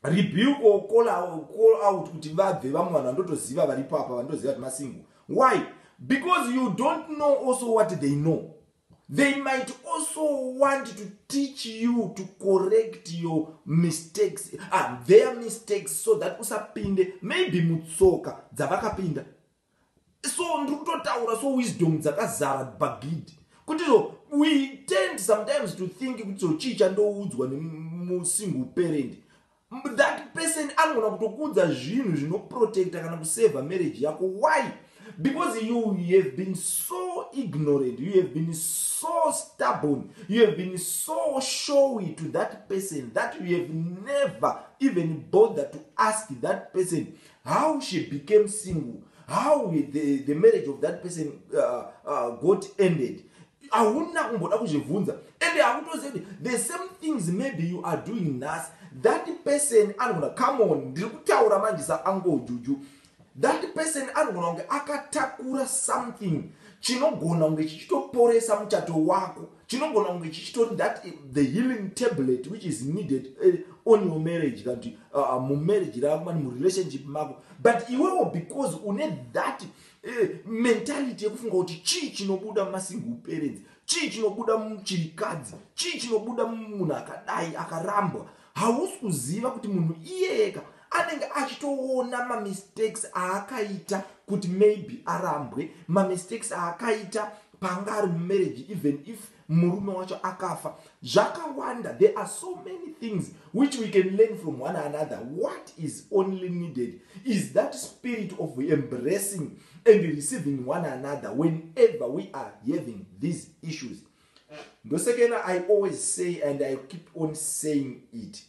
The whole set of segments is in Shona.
rebuke or call out, call out kuti vabve vamwe vanhu vandotoziva vari papa vandoziva kuti masingo why because you don't know also what they know they might also want to teach you to correct your mistakes ah, their mistakes so that usapinde maybe mutsoka dzavakapinda so ndiri kutotaura so wisdom dzakazara bagid kuti so we tend sometimes to think kuti so chii chandoudzwa nemusingle parent that person anogona kutokuudza zvinhu zvinoprotecta kana kusavha marriage yako why because you, you have been so ignorant you have been so stubborn you have been so showy to that person that you have never even bother to ask that person how she became single how the, the marriage of that person uh, uh, got ended hauna kumboda kuzvibvunza and hakutoziva kuti the same things maybe you are doing nhasi that person anogona come on ndiri kutaura manje saangojuju that person anogona kunge akatakura something chinogona kunge chichitoporesa muchato wako chinogona kunge chichitori that eh, the healing tablet which is needed uh, on your marriage kana kuti uh, uh mumarriage rako mani murelationship mako but iwewo because une that uh, mentality yekufunga kuti chii chinobuda mumasingle parents chii chinobuda muchirikadzi chii chinobuda mumunhu akadai akarambwa hausi kuziva kuti munhu iyeyeka anenge achitoona mamistakes aakaita kuti maybe arambwe mamistakes aakaita paanga ari mumarriage even if murume wacho akafa zvakawanda there are so many things which we can learn from one another what is only needed is that spirit of embracing and receiving one another whenever we are having these issues ndosekena i always say and i keep on saying it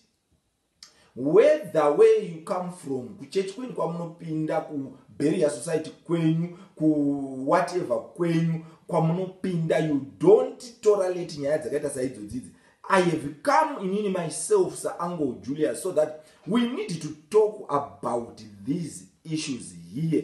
whether where you come from kuchechi kwenyu kwamunopinda kubarrier society kwenyu kuwhatever kwenyu kwamunopinda you don't toralate nyaya dzakaita saidzodzidzi i have come inini myself saangle julius so that we need to talk about these issues here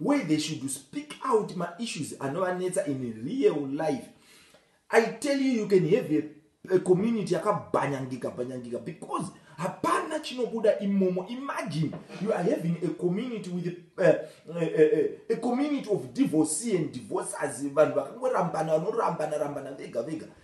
where they should speak out maissues anovanetsa in real life i tell you you can have a, a community yakabhanyangika bhanyangika because hapana chinobuda imomo imagine you are having a community with a, a, a, a community of divorce and divorces vanhu vakangorambana vanorambana rambana vega vega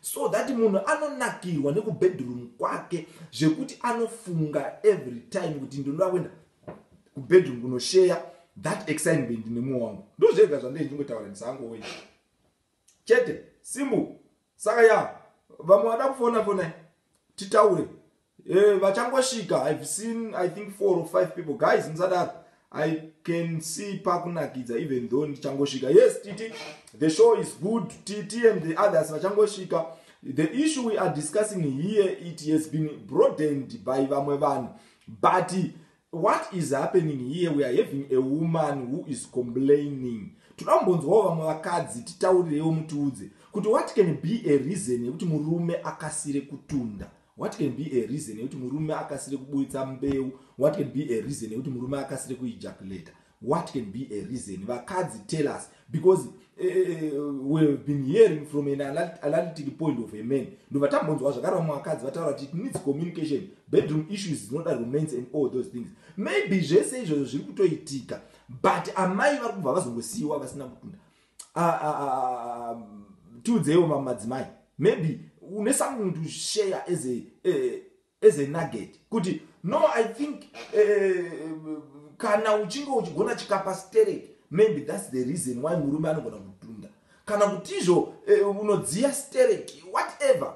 So that munhu anonakirwa nekubedroom kwake zvekuti anofunga every time kuti ndinoda kuenda kubedroom kunosheya that excitement nemoyo wangu ndozvega zvandei ndingotaura ndisango wei chete simbu saka ya vamwe vada kufona fonai titaure Eh, vachangosvika i've seen i think four or five people guys musadaro i can see pakunakidza even though ndichangosvika yes titi the show is good titi and the others vachangosvika the issue we are discussing here it has been broadened by vamwe vanhu but what is happening here we are having a woman who is complaining toda kumbonzwawo vamwe vakadzi titaurirewo mutiudze kuti what can be a reason yekuti murume akasire kutunda What can be a reason yekuti murume akasire kuburitsa mbeu? What can be a reason yekuti murume akasire kuejaculata? What can be a reason? Vakadzi tell us because uh, we have been hearing from an analytic point of a man. Ndobva tambonzwa zvakare vamwe vakadzi vataura kuti it needs communication, bedroom issues is not a romance and all those things. Maybe zvese izvozvo zviri kutoitika but amai vari kubva vazongosiyiwa vasina kutunda. ah, ah, ah, tiudzeiwo mamwe madzimai maybe une something to share as a, eh, as a nugget kuti no i think eh, kana uchinge uchigona chikapa sterek maybe thats the reason why murume anogona kutunda kana kutizvo eh, unodziya sterek whatever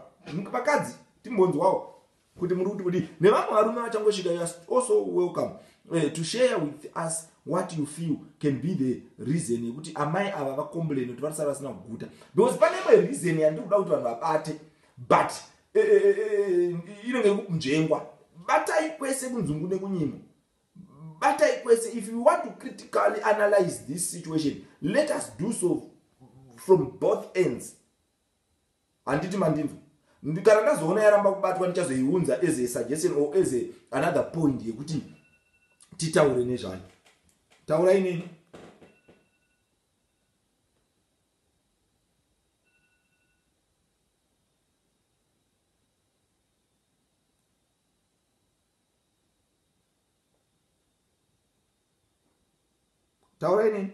vakadzi timbonzwawo kuti muri kuti kudii nevamwe varume vachangosvika you are also welcome uh, to share with us what you feel can be the reason yekuti amai ava vacomplain kuti varisara vasina kuguta because pane imwe reason yandiri kuda kuti vanhu vabate but eh, eh, eh, inenge uh, uh, uh, kunzvengwa batai kwese kunzungu nekunyimo batai kwese if you want to critically analyze this situation let us do so from both ends Handiti mandinzwa? Kana ndazoona yaramba kubatwa ndichazoiunza as a suggestion or as a another point yekuti titaure nezvayo. Taura inini. Taura inini.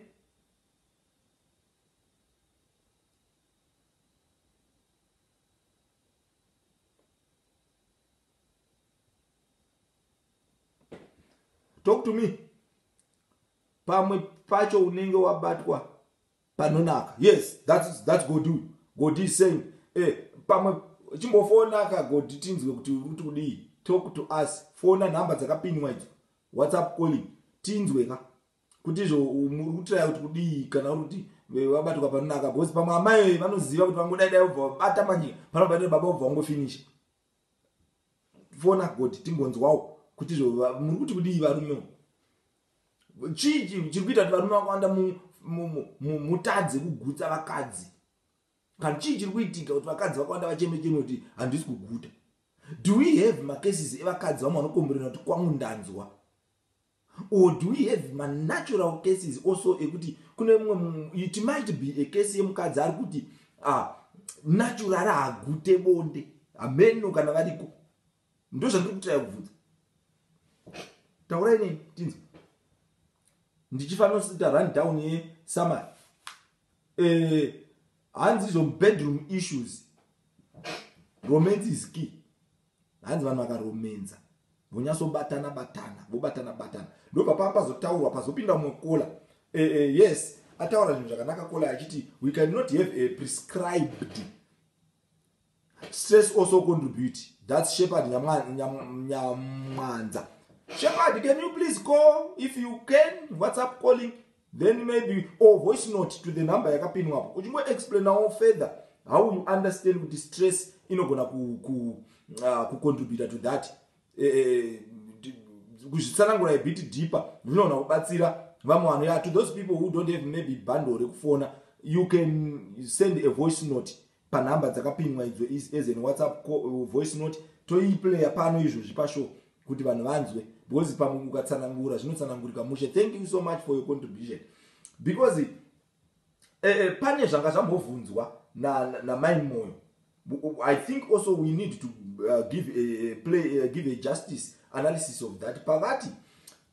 talk to me pamwe pacho unenge wabatwa panonaka yes that's, that's god god is saying eh, pamwe chimbofonaka god tinzwe kuti uti kudii talk to us fona nhamba dzakapinwa idzo whatsapp calling tinzwe ka kuti izvo muri kutiraya kuti kudii kana uri kuti vabatwa panonaka bcause pamwe amai vanoziva kuti vangodaidai ubva vabata manje panobatira baba ubva vangofinisha fona god timbonzwawo kuti izvo muri kuti kudii varume chii chiri kuita kuti varume vakawanda mutadze kugutsa vakadzi kana chii chiri kuitika kuti vakadzi vakawanda vachemecheme kuti handisi kuguta do we have macases evakadzi vamwe vanokomborera kuti kwangu ndanzwa or do we have manatural cases also ekuti kune mumwe it might be a case yemukadzi ari kuti ah, natural haagute bonde hameno kana variko ndo zvandiri kutira kubvudza taurai nei tinzi ndichifanosita run down yesamari eh, hanzi izvo bedroom issues romance is key Hanzi vanhu vakaromenza vonyatsobatana batana vobatana batana ndobva paa pazotaurwa pazopinda mumwe kola e, e, yes ataura zvinhu zvakanaka kola achiti we cannot have a prescribed stress also contribute thats shepherd nyamwanza shepherd can you please call if you can whatsapp calling then maybe or voice note to the number yakapinwapo uchingo explainawo further how you understand kuti stress inogona kucontributa ku, ku, uh, to that eh, eh, eh, kuzvitsanangura ibit deeper zvinogona kubatsira vamwe vanhu ya to those people who don't have maybe bundle rekufona you can send a voice note panhamba dzakapimwa idzo as an whatsapp uh, voice note toiplayer pano izvozvi pashow kuti vanhu vanzwe because pamwe ukatsanangura zvinotsanangurika mushe thank you so much for your contribution because eh, eh, pane zvanga zvambovhunzwa namai moyo i think also we need to uh, give, a, play, uh, give a justice analysis of that pavati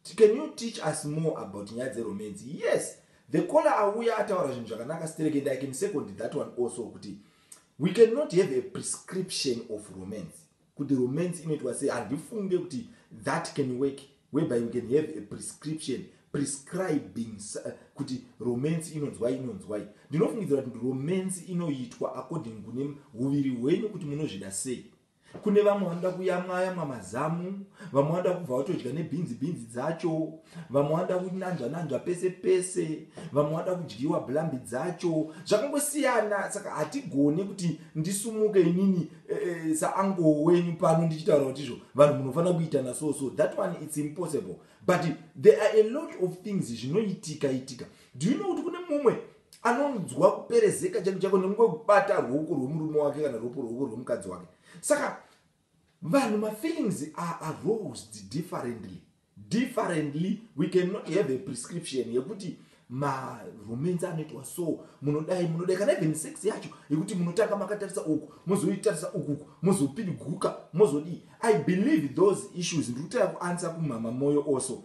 Ti can you teach us more about nyaya dze romance yes the caller auya ataura zvinhu zvakanaka sterek and i can second that one also kuti we can not have a prescription of romance kuti romance inoitwa sei handifunge kuti that can work whereby we can have a prescription prescribing uh, kuti romance inonzwai inonzwai ndinofungidzira kuti romance inoitwa according kune uviri hwenyu kuti munozvida sei kune vamwe vanoda kuyamwa yamwa mazamu vamwe vanoda kubva vatodya nebhinzi bhinzi dzacho vamwe vanoda kunanzva nanzva pese pese vamwe vanoda kudyiwa blambi dzacho zvakangosiyana saka hatigone kuti ndisumuke inini e, e, saango wenyu pano ndichitaura kuti izvo vanhu munofanira kuitana so so that one its impossible but there are a lot of things zvinoitika itika do you know kuti kune mumwe anonzwa kuperezeka chake chako nekunge kubata ruoko rwemurume wake kana ruoko ruoko rwemukadzi wake saka vanhu mafeelings are arosed differently differently we cannot have a prescription yekuti maromansi anoitwa so munodai munodai kana even sex yacho yekuti munotanga makatarisa uku mozoitarisa ukuku mozopidiguka mozodii i believe those issues ndiri kutaya kuansa kumama moyo also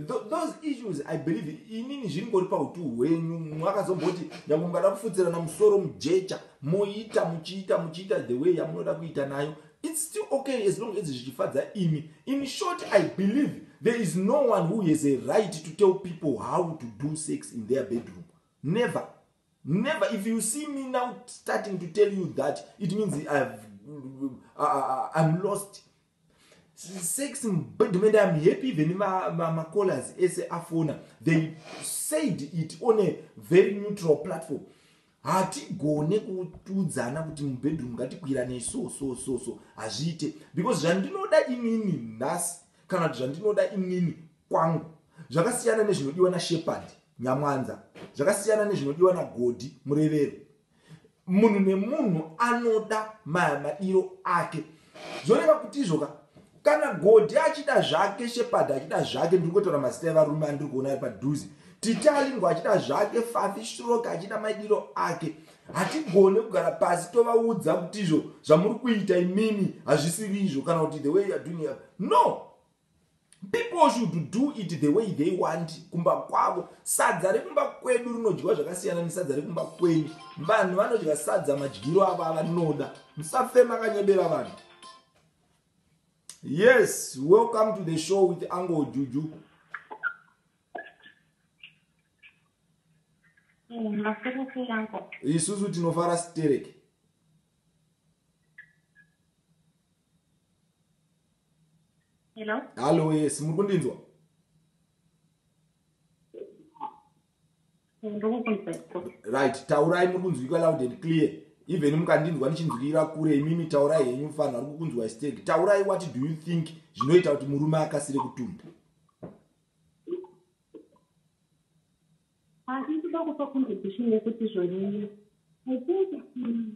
those issues i believe inini zviringori pautu hwenyu mwakazomboti nyangwe mungada kufudzirana musoro mujecha moita muchiita muchiita the way yamunoda kuita nayo its still okay as long as zvichifadza imi in short i believe there is no one who has a right to tell people how to do sex in their bedroom never never if you see me now starting to tell you that it means ive uh, uh, uh, i'm lost sex mubedroom and i'm happy even macallers ma, ma ese afona they said it on a very neutral platform hatigone kutudzana kuti mubedroom ngatikwirane so so so so hazviite because zvandinoda inini nhasi kana kuti zvandinoda inini kwangu zvakasiyana nezvinodiwa nashepard nyamwanza zvakasiyana nezvinodiwa nagodi murevero Munhu nemunhu anoda madiro ake. Zvoreva kuti izvo ka kana Godi achida zvake, Shepherd achida zvake, ndiri kutaura mazita evarume andiri kuona ari padhuze. Titalingo achida zvake, Fafi Stroke achida madiro ake. Hatigone kugara pasi tovaudza kuti izvo zvamuri kuita imimi hazvisiri izvo kana kuti the way you are doing it. No! People should do it the way they want kumba kwavo. Sadza rekumba kwedu rinodyiwa zvakasiyana nesadza rekumba kwenyu. Vanhu vanodya sadza madyiro avo avanoda. Musafe makanyebera vanhu. Yes, welcome to the show with Ango Juju. Isusu tinofara stereki. Hello? Hello, yes, muri kundinzwa? Right, taurai muri kunzwika loud and clear. Even mukandinzwa ndichinzwira kure imimi taurai henyu mfanhu ari kukunzwa stake. Taurai what do you think zvinoita kuti murume akasire kutumba? Asi kuda kupa contribution yekuti zvonyanya. I think mm,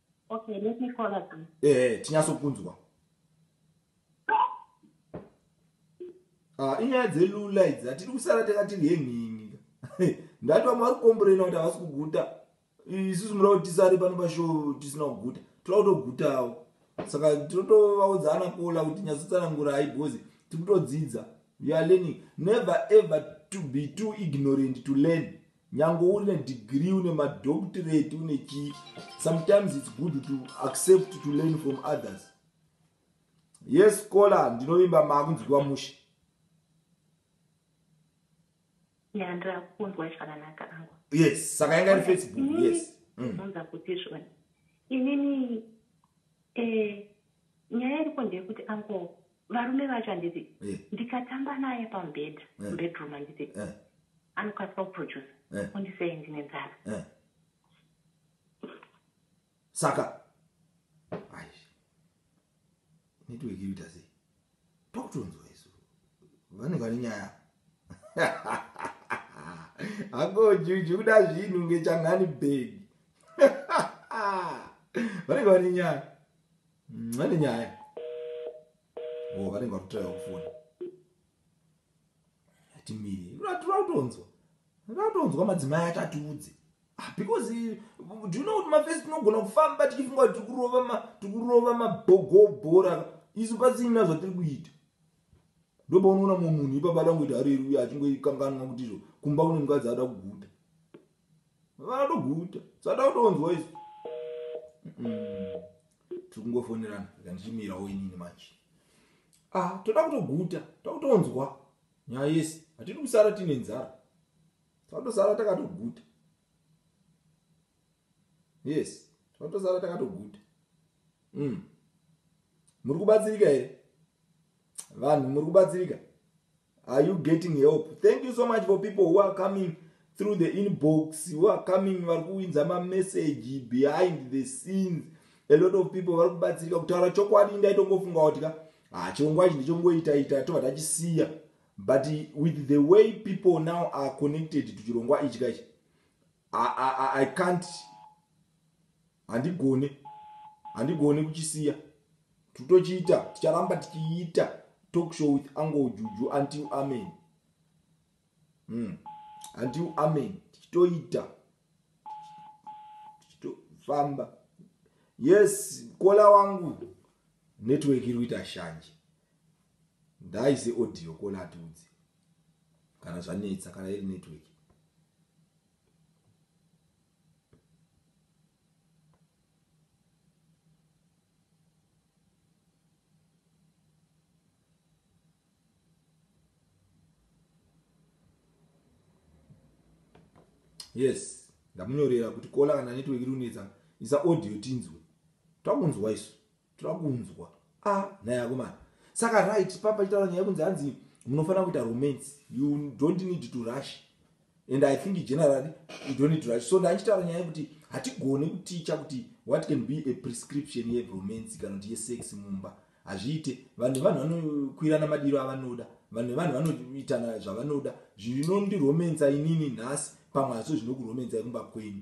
Okay, let me call again. Ehe, tinyasokunzwa. Ah, inyaya dzelula idzi hatiri kusara takatiri henhingi ndati vamwe vari kukomborena kuti havasi kuguta isusu mura kuti tisare pano pashow tisina kuguta toda kutogutawo saka totovaudza ana kola kuti nyatsotsanangurai because tiri kutodzidza youare learning never ever to be too ignorant to learn Nyange uri ne degree une ma doctorate une chi sometimes it's good to accept to learn from others. Yes kola ndinovimba makunzwiwa mushe. Yeah, ndirakunzwa zvakanaka angu. Yes, saka yanga iri Facebook. Mm. Yes. Ndinonza mm. kuti zvona. Inini eh nyaya iripo ndeyekuti angu Varume vacho handiti eh. ndikatamba naye pamubhedha eh. mubedroom handiti eh. anokasika kuproducer eh. undisei ndine nzara eh. saka ai network inoita sei tokutonzwa isu vanenge vane nyaya akojuju kuda zvinhu ngechangani bhegi vanenge vane nyaya Mane nyaya. Oh, vanenge vatotaiwa kufona. Timiri. Tinotonzwa. Tinotonzwa madzimai atatiudze. Ah, because uh, do you know my face tinogona kufamba tichifunga kuti tikurova ma tikurova mabhogobhora isu pasina zvatiri kuita. Ndoba unoona mumwe munhu ipabada ngoita hari uya achingoikanganwa kuti izvo kumba kune mukadzi ada kuguta. vanoguta sata utonzwa isu tiri kungofonerana kandichimirawo inini manje ah toda kutoguta toda kutonzwa nyaya yese hatidi kusara tiine nzara tatosara takatoguta yes tatosara takatoguta mm. muri kubatsirika here vanhu muri kubatsirika are you getting help thank you so much for people who are coming through the inbox who are coming vari kuwinza mamessage behind the scenes a lot of people vari kubatsirika kutaura chokwadi ndaitongofunga kuti ka hachirongwa ah, ichi ndichongoitaita tobva tachisiya but with the way people now are connected to chirongwa ichi kaichi I can't handigone handigone kuchisiya titochiita ticharamba tichiita talk show with ango juju until amen mm. until amen tichitoita tichitofamba yes kola wangu network iri kuita shanje ndaise audio kola atiudzi kana zvanetsa kana iri network yes ndamunyorera kuti kola kana network iri kunetsa isa audio tinzwe takunzwa isu Toda kunzwa. Ah, nhai akomana. Saka right papa chitaura nyaya kunzi hanzi munofanira kuita romance. You don't need to rush. And I think generally you don't need to rush. So ndachitaura nyaya kuti hatigone kuticha kuti what can be a prescription ye romance kana kuti ye sex mumba. Hazviite. Vanhu vanhu vanokwirana madiro avanoda. Vanhu vanhu vanoitana zvavanoda. Zvinondiromance inini nhasi pamwe hazvo zvinokuromance kumba kwenyu.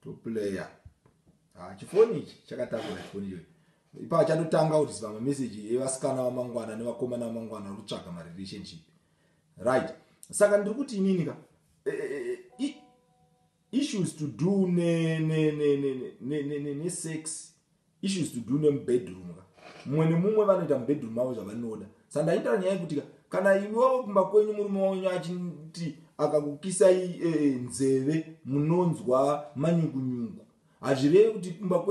toplayer ah, chifoni ichi chakatambura chifoni iyoyi ipa chatotanga kutiziva mameseji evasikana vamangwana nevakomana vamangwana vari kutsvaga marelationship right saka ndiri kuti inini ka e, e, e, issues to do nesex issues to do nemubedroom ka mumwe nemumwe vanoita mubedroom avo zvavanoda sandaita nyaya yekuti ka kana imi wavo kumba kwenyu murume wenyu achiti akakukisai e, e, nzeve munonzwa manyukunyuku hazvireve kuti kumba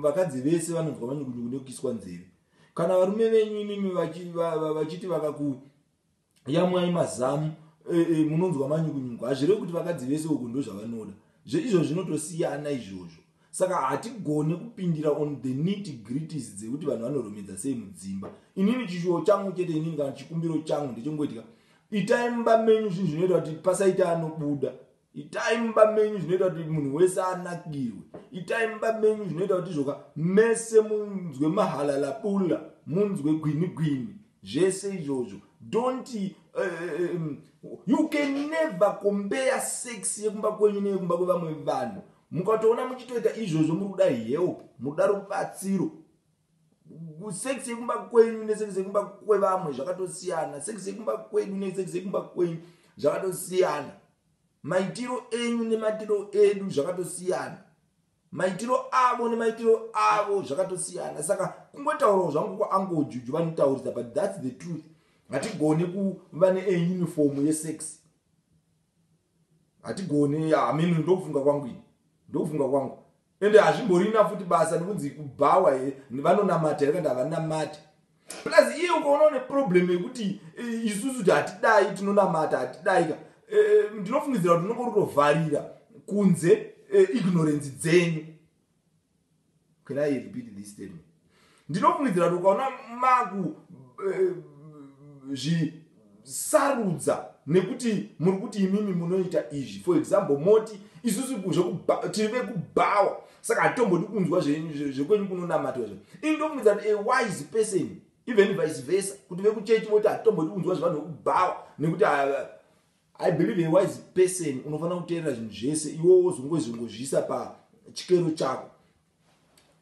vakadzi vese vanonzwa manyukunyuku nekukiswa nzeve kana varume venyu imimi vachiti vakaku yamwai mazamu e, e, munonzwa manyukunyuku hazvireve kuti vakadzi vese uku ndozvavanoda zveizvo zvinotosiyana izvozvo saka hatigone kupindira on the nity gritis dzekuti vanhu vanoromedza sei mudzimba inini chishuwo changu chete inini kana chikumbiro changu ndechengoitika itai mumba menyu zvinhu zvinoita kuti pasaita anobuda itai mumba menyu zvinoita kuti munhu wese anakirwe itai mumba menyu zvinoita kuti zvoka mese munzwe mahalalabula munzwe gwini gwini zvese izvozvo don't uh, um, you can never compare sex yekumba kwenyu neyekumba kwevamwe vanhu mukatoona muchitoita izvozvo muri kuda help muda rubatsiro sex yekumba kwenyu nesex yekumba kwevamwe zvakatosiyana sex yekumba kwedu nesex yekumba kwenyu zvakatosiyana maitiro enyu nemaitiro edu zvakatosiyana maitiro avo nemaitiro avo zvakatosiyana saka kungotaurawo zvangu kwaangojuju vanotaurisa but thats the truth hatigone kuva neuniform yesex hatigone amene ndokufunga kwangu ini ndokufunga kwangu ende hazvimborina futi basa nekunzi kubhawa here vanonamata here kanda havanamati plus iye ukaona une problem yekuti eh, isusu kuti hatidai tinonamata hatidai ka eh, eh, ndinofungidzira kuti unenge urutovharira kunze ignorance dzenyu can i repeat this statement ndinofungidzira kuti ukaona maku eh, zvisarudza nekuti muri kuti imimi munoita izvi for example moti isusu tiri vekubhawa saka hatombodi kunzwa zvekwenyu kunonamatwa zvo ini ndofungidzira kuti a wise person even vice versa kuti vekuchechi voti hatombodi kunzwa zvevanhu vekubhawa nekuti ah, i believe a wise person unofanira kuteerera zvinhu zvese iwo wozongozvisa pachikero chako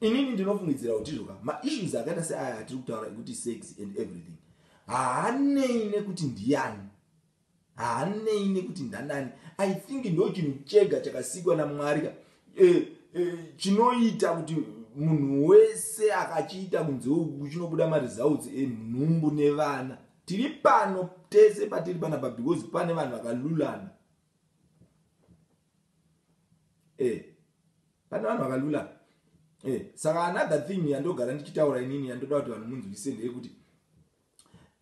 inini ndinofungidzira kuti izvo ka maissues akaita seaya atiri kutaura ekuti sex and everything haanei nekuti ndiyani haanei nekuti ndanani i think ndo chinhu chega chakasikwa namwari ka eh, eh, chinoita kuti munhu wese akachiita kunze uku chinobuda maresults enhumbu nevana tiri pano tese patiri panapa because pane vanhu vakalulana eh pane vanhu vakalula eh saka another thing yandogara ndichitaura inini yandoda kuti vanhu munzwisise ndeyekuti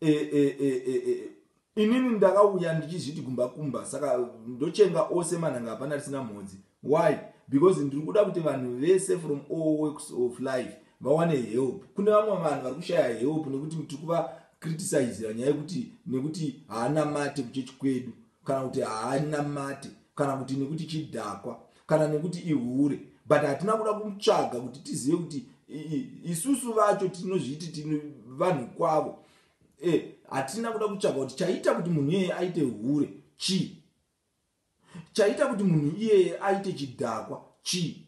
eh, eh, eh, eh, eh, inini ndakauya ndichizviti kumba kumba saka ndochenga ose manhanga hapana risina mhodzi why because ndiri kuda kuti vanhu vese from all works of life vawane help kune vamwe vanhu vari kushaya help nekuti tiri kuva criticizira nyaya yekuti nekuti haana mate kuchechi kwedu kana kuti haanamati kana kuti nekuti chidhakwa kana nekuti ihure but hatina kuda kutsvaga kuti tizive kuti isusu vacho tinozviti tino vanhu kwavo e, hatina e, kuda kutsvaga kuti chaita kuti munhu iyeye aite hure chii chaita kuti munhu iyeye aite chidhakwa chii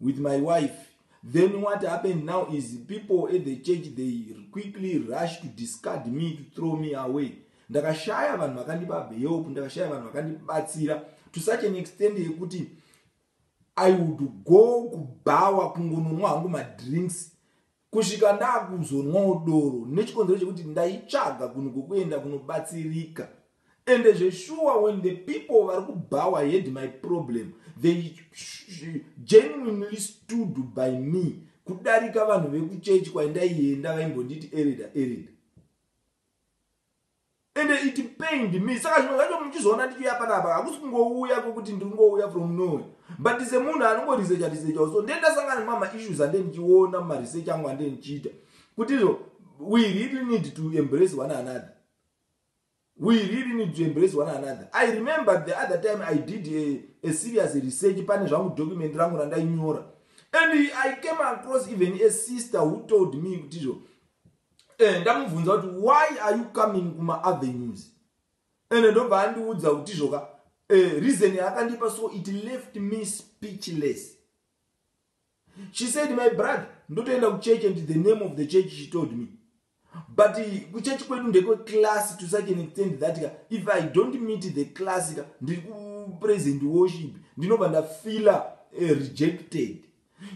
with my wife then what happened now is people at the church they quickly rush to discard me to throw me away ndakashaya vanhu vakandipa help ndakashaya vanhu vakandibatsira to such an extent yekuti i would go kubhawa kungononwa hangu madrinks Kusvika ndakuzonwawo doro nechikonzero chekuti ndaitsvaga kunhu kwekuenda kunobatsirika ende zveshuwa when the people vari kubhawa had my problem they genuinely stood by me kudarika vanhu vekuchechi kwaindaienda vaimbonditi ereda ereda ende it pained me saka zvimwe zvacho muchizoona ndichiuya panapa hakusi kungouya kwekuti ndiri kungouya from nowhere but semunhu anongorisecha risechawo so ndee ndasangana nemama issues ande ndichiona mumaresearch angu ande ndichiita kuti izvo we really need to embrace one another we really need to embrace one another i remember the other time i did a, a serious research pane zvangu document rangu randainyora and i came across even a sister who told me kuti izvo eh, ndamubvunza kuti why are you coming kuma avenues and ndobva andiudza kuti zvoka eh, reason yaakandipa so it left me speechless she said my brother ndotoenda kuchurch and the name of the church she told me but eh, kuchechi kwedu ndekwe class to such an extent that ka if i don't meet the class ka ndiri kupresent worship ndinobva ndafeela eh, rejected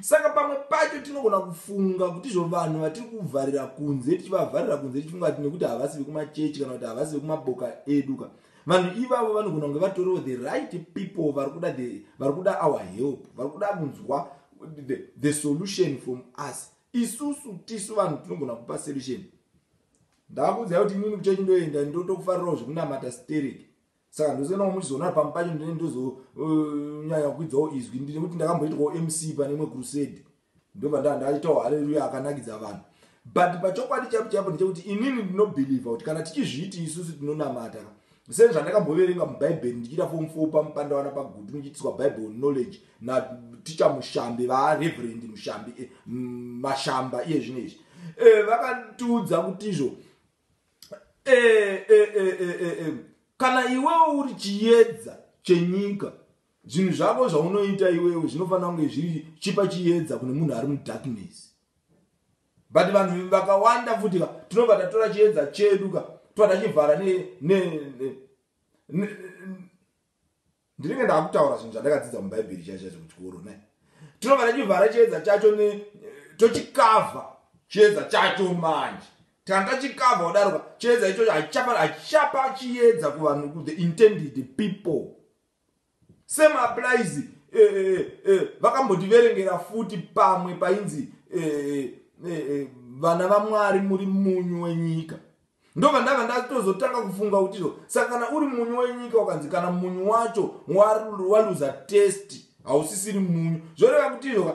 Saka pamwe pacho tinogona kufunga kuti izvo vanhu vatiri kuvharira kunze tichivavharira kunze tichifunga kuti nekuti havasi vekumachechi kana kuti havasi vekumaboka edu ka vanhu ivavo vanogona kunge vatoriwo the right people vari kuda the vari kuda our help vari kuda kunzwa the, the solution from us isusu tisu vanhu tinogona kupa solution ndakuudzai kuti inini kuchechi ndoenda ndotokufarirawo zvekunamata stereki saka ndose kana muchizoona pamwe pacho ndine ndozonyanya uh, kuidzawo izwi ndine kuti ndakamboitwawo mc pane imwe crusade ndobva ndaa ndaitawo haleluya akanakidza vanhu but pachokwadi chaipo chaipo ndechekuti inini ndinobhilivha kuti kana tichizviiti isusu tinonamata sezvandakamboverenga mubhaibheri ndichiita fom fo pamupandawana pagutu ndichiitiswa bible knowledge naticha mushambi vareverend mushambi eh, mashamba iye zvino izvi eh, vakatiudza kuti izvo Eh, eh, eh, eh, eh, eh. kana iwewo uri chiyedza chenyika zvinhu zvako zvaunoita iwewe zvinofanira kunge zviri chipa chiyedza kune munhu ari mudarkness but vanhu vakawanda futi ka tinobva tatora chiyedza chedu ka tobva tachivhara ne, ne, ne, ne, ndinenge ndakutaura zvinhu zvandakadzidza mubhaibheri chaizvaizvo kuchikoro ne tinobva tachivhara chiedza chacho ne eh, tochikavha chiedza chacho manje tanga tachikavha kudaroka chiedza ichocho hachichapa chiedza kuvanhu kuthe intended people same applies eh, eh, eh, vakambotiverengera eh, eh, futi pamwe painzi eh, eh, eh, vana vamwari muri munyu wenyika Ndobva ndanga ndatozotanga kufunga kuti izvo saka kana uri munyu wenyika ukanzi kana munyu wacho waluza test hausisiri munyu zvoreva kuti izvo ka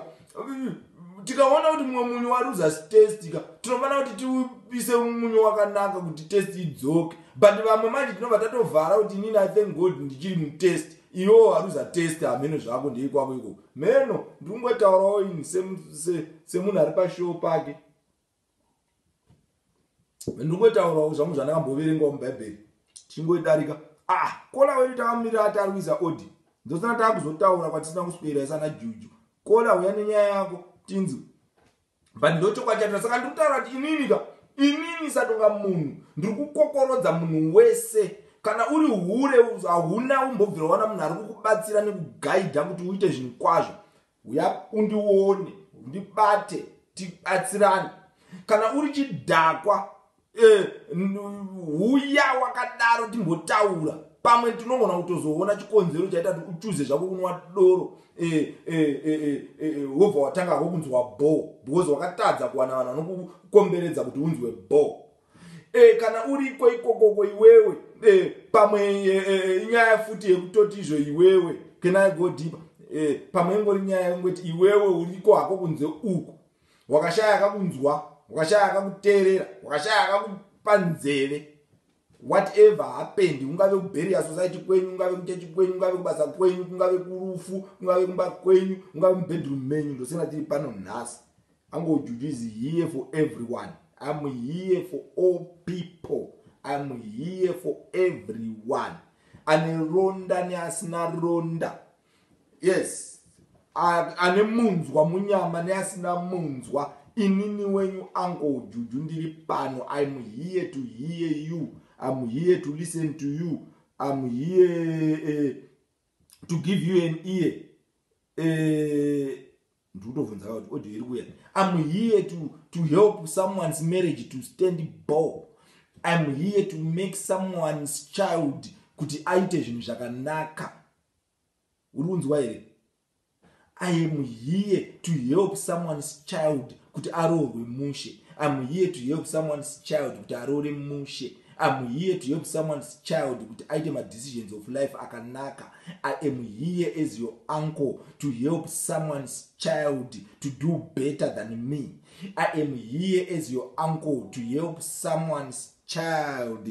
tikaona kuti mumwe munyu waruza test ka tinofanira kuti tiupise munyu wakanaka kuti test idzoke but vamwe manje tinobva tatovhara kuti inini i thank god ndichiri mutest iwewo waruza test hameno zvako ndei kwako ikoko meno ndiri kungotaurawo ini semunhu ari pashowo pake ndingotaurawo zvangu zvandakamboverengawo mubhaibheri chingoidarika ah kola wedu takamirira ati ari kuisa odi ndosana taakuzotaura kwatisina kuswera isana juju kola huya nenyaya yako tinzwe but ndochokwadi chatira saka ndiri kutaura kuti inini ka inini satonga munhu ndiri kukokorodza munhu wese kana uri hure hauna umbobvira wana munhu ari kukubatsira nekugaidha kuti uite zvinhu kwazvo Huya undione, undibate, tibatsirane. Kana uri chidhakwa, eh, huya wakadaro timbotaura. Pamwe tinogona kutozoona chikonzero chaita kuti uchuze zvako kunwa doro eh, eh, eh, eh, wobva eh, eh, watanga hako kunzwa bho because wakatadza kuwana vanhu vanokukomberedza kuti unzwe bho. e, kana uriko ikokoko iwewe e, pamwe e, inyaya e, futi yekutoti izvo iwewe can i go deeper e, pamwe ingori nyaya yekungoti iwewe uriko hako kunze uku wakashaya akakunzwa wakashaya akakuteerera wakashaya akakupa nzeve whatever happened ungave kuberia society kwenyu ungave kuchechi kwenyu ungave kubasa kwenyu kungave kurufu kungave kumba kwenyu ungave mubedroom menyu ndosina tiri pano nhasi I'm going to is here for everyone. I'm here for all people. I'm here for everyone. Aneronda neasina ronda. Yes. Ane munzwa munyama neasina munzwa. Inini wenyu uncle Juju ndiri pano. I'm here to hear you. I'm here to listen to you. I'm here uh, to give you an ear. Uh, ndikutobvunza ka kuti audio iri kuya im here to, to help someone's marriage to stand ball im here to make someone's child kuti aite zvinhu zvakanaka uri kunzwa here i am here to help someone's child kuti aroorwe mushe im here to help someone's child kuti aroore mushe am here to help someone's child kuti aite madecisions of life akanaka i am here as your uncle to help someone's child to do better than me i am here as your uncle to help someone's child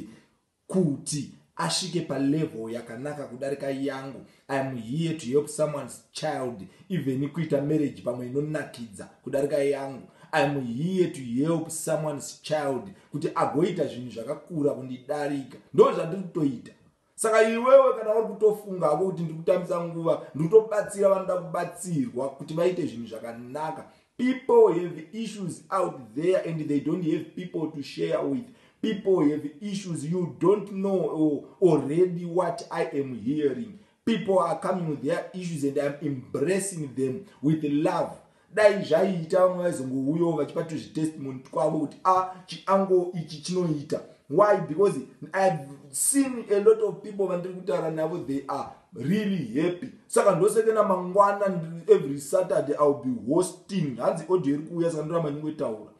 kuti asvike palevel yakanaka kudarika yangu i am here to help someone's child even kuita marriage pamwe inonakidza kudarika yangu i am here to help someone's child kuti agoita zvinhu zvakakura kundidarika ndo zvandiri kutoita saka iwewe kana uri kutofunga hako kuti ndiri kutambisa nguva ndiri kutobatsira vanoda kubatsirwa kuti vaite zvinhu zvakanaka people have issues out there and they don't have people to share with people have issues you don't know already what i am hearing people are coming with their issues and iam embracing them with love dai zvaiita vamwe vaizongouyawo vachipa tuzvitestimony twavo kuti a ah, chiango ichi chinoita why because ihave seen a lot of people vandiri kutaura navo they are really happy saka ndosekena mangwana every saturday iwill be hosting hanzi audio iri kuuya saka ndoramba nyingoitaura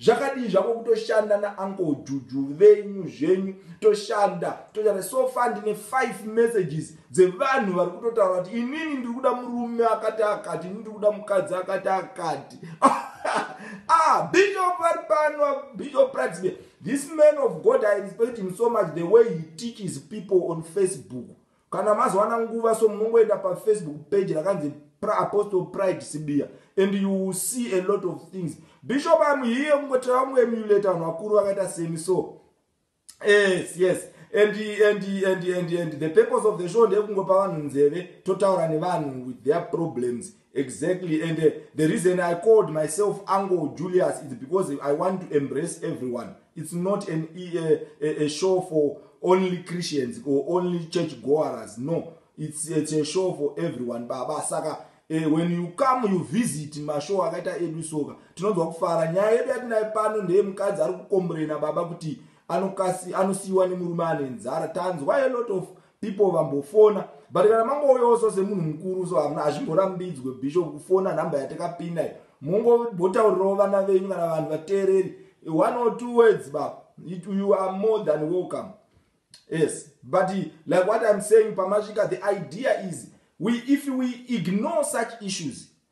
zvakadii zvako kutoshanda nauncle juju venyu zvenyu toshanda toshanda so far ndine five messages dzevanhu vari kutotaura kuti inini ndiri kuda murume akati akati ini ndiri kuda mukadzi akati akati ah bishop vari pano bishop pratsbe this man of god i respect him so much the way he teaches people on facebook kana mazowana nguva so munongoenda pafacebook page rakanzi apostle pride sibiya and you will see a lot of things bishop am here kungotira vamuemulate vanhu vakuru vakaita semi so yes yes and, and, and, and, and the purpose of the show ndekungopa vanhu nzeve totaura nevanhu with their problems exactly and uh, the reason i called myself angle julius is because i want to embrace everyone it's not an, a, uh, a, a show for only christians or only church goers no it's, it's a show for everyone baba saka eh, when you come you visit mashow akaita edu soka tinonzwa kufara nyaya yedu yatinaye pano ndeye mukadzi ari kukomburena baba kuti anosiyiwa nemurume ane nzara tanzwa a lot of people vambofona but kana mangouyaosa semunhu mukuru so hamuna hazvimborambidzwe bishop kufona nhamba yatakapinda iyo mongobotaurirawo vana venyu kana vanhu vateereri one or two words baba you are more than welcome yes but like what im saying pamasvika the idea is we if we ignore such issues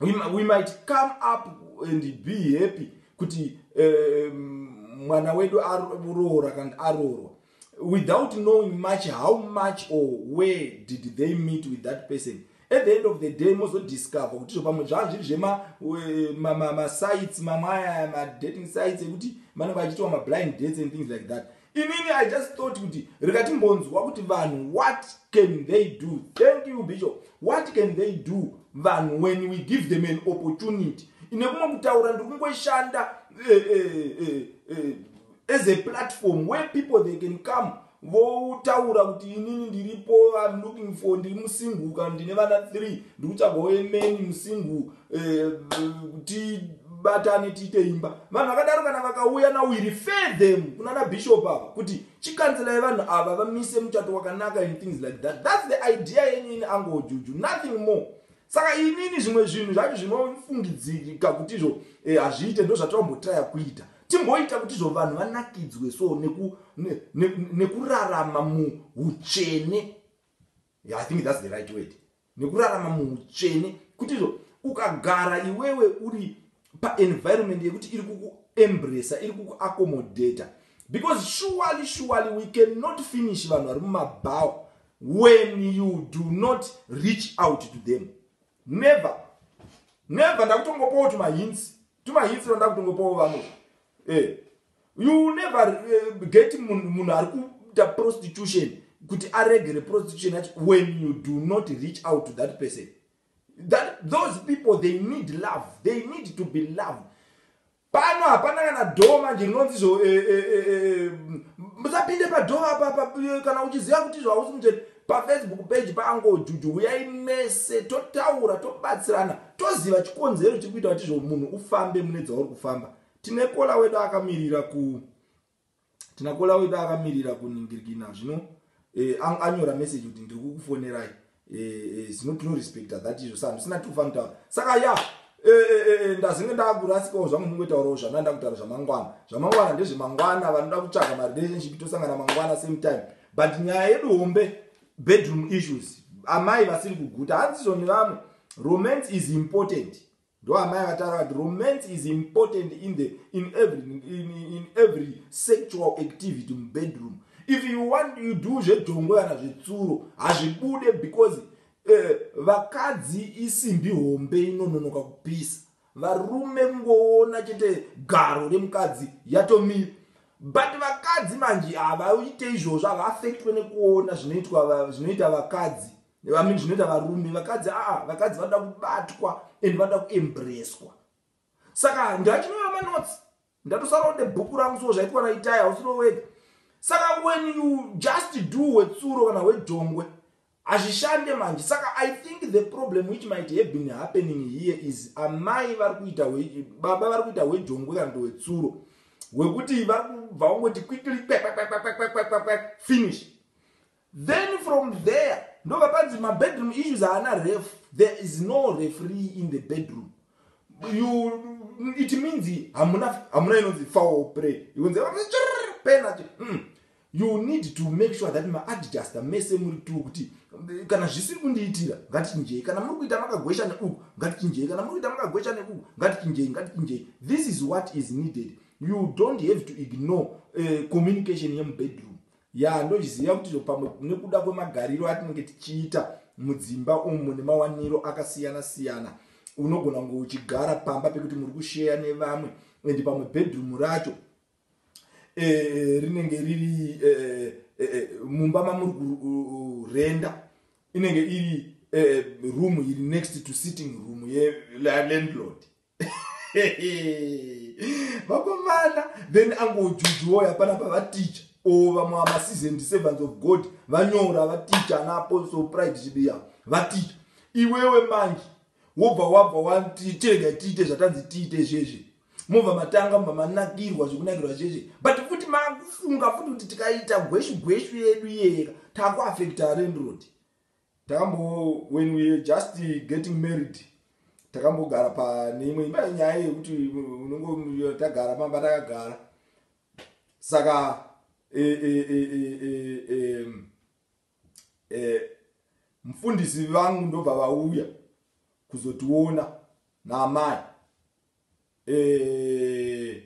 we, we might come up and be happy kuti eh, mwana um, wedu aroora kana aroorwa without knowing much how much or where did they meet with that person at the end of the day mozodiscover kuti zvo pamwe zvaa zviri zvemasites ma, ma, ma mamwe aya madating sites ekuti vanenge vachitiwa mablind dates and things like that Inini I just thought kuti rikatimbonzwa kuti vanhu what can they do? Thank you Bishop. What can they do vanhu when we give them an opportunity? Ine kumwe kutaura ndiri kungoshanda eh, eh, eh, as a platform where people they can come votaura kuti inini ndiripo I'm looking for ndiri musingle kana ndine vana three ndiri kutsvaga wemeni musingle eh, tibatane tiite imba vanhu vakadaro kana vakauya now we refer them kunana bishop ava kuti chikanzelai vanhu ava vamise muchato wakanaka and things like that thats the idea yenyu ini angojuju nothing more saka inini zvimwe zvinhu zvacho zvinofungidzirika kuti izvo eh, hazviite ndo zvatavambotraya kuita timboita kuti izvo vanhu vanakidzwe so nekurarama muutsvene i think thats the right word nekurarama muutsvene kutizvo ukagara iwewe uri paenvironment yekuti iri kukuembresa iri kukuaccomodata because surely surely we cannot finish vanhu vari mumabhawa when you do not reach out to them never never ndakutongopawo tumahinsi tumahinsi vandakutongopawo vamwe e eh. you never uh, get munhu ari kuita prostitution kuti aregere prostitution yacho when you do not reach out to that person that those people they need love they need to be loved pano hapana kana dho manje rinonzi zvo eh, eh, eh, musapinde padho apapa kana uchiziva kuti izvo hausi muchete pafacebook page paangojuju huyai mese totaura tobatsirana toziva chikonzero chiri kuita kuti zvo munhu ufambe mune dzauri kufamba tine kola wedu akamirira ku tina kola wedu akamirira kuningirikina zvino eh, anyora message kuti ndiri kukufonerai eh, eh, zvino tinorespecta that izvo sa ndisina tikufanitaura saka ya ndazinge ndakurasikawo zvangu ndingoitaurawo zvana ndakutaura zvamangwana zvamangwana ndezvemangwana vanoda kutsvaga marelationship tosangana mangwana same time but nyaya yedu hombe bedroom issues amai vasiri kuguta hanzizvo nevamwe romance is important Ndo amai vataura vati romance is important in the in every in, in every sexual activity mu bedroom. If you want you do zvedhongo kana zvetsuro hazvibude because eh, vakadzi uh, isimbi hombe inononoka kupisa. Varume kungoona chete garo remukadzi yatomira. But vakadzi manje havaite izvozvo havaafektwe nekuona zvinoitwa zvinoita vakadzi. vamini zvinoita varume vakadzi aa vakadzi vanoda kubatwa and vanoda kuembreswa saka ndachinova manotsi ndatosaronde bhuku rangu so zvaitwa naitaya hausirovega saka when you just do wetsuro kana wedhongwe hazvishande manje saka i think the problem which might have been happening here is amai vari kuita baba vari kuita wedhongwe kana ndowetsuro wekuti vari kubva wangoti quickly finish Then from there ndobva panzi mabedroom issues haana ref there is no refree in the bedroom you it means hamuna hamuna inonzi foul play ikunzi penalty mm. you need to make sure that maadjuster mese muri tu kuti kana zvisiri kundiitira ngatichinjei kana muri kuita makagwesha neuku ngatichinjei kana muri kuita makagwesha neuku ngatichinjei ngatichinjei this is what is needed you don't have to ignore uh, communication yemubedroom Yaa ndozviziva kuti izvo pamwe nekuda kwemagariro atinenge tichiita mudzimba umu nemawaniro akasiyana siyana unogona kunge uchigara pamba pekuti muri kusheya nevamwe and pamwe bedroom racho e, rinenge riri e, e, e, mumba mamuri kurenda inenge iri e, room iri next to sitting room yelandlord vakomana then angojujuoy hapana pavaticha o vamwe vamasizendi servants of god vanyora vaticha ana apostle pride chibiya vaticha iwewe manje wobva wabva wati tirega tiite zvatanzi tiite zvizvi mobva matanga mobva manakirwa zvekunakirwa zvizvi but futi makufunga futi kuti tikaita gweshu gweshu yedu iyeyeka takuafekta renrod Tambo when we were just getting married takambogara pane imwe imba yenyaya yekuti unongo tagara pamba takagara saka e, e, e, e, mfundisi vangu ndobva vauya kuzotiona naamai eh,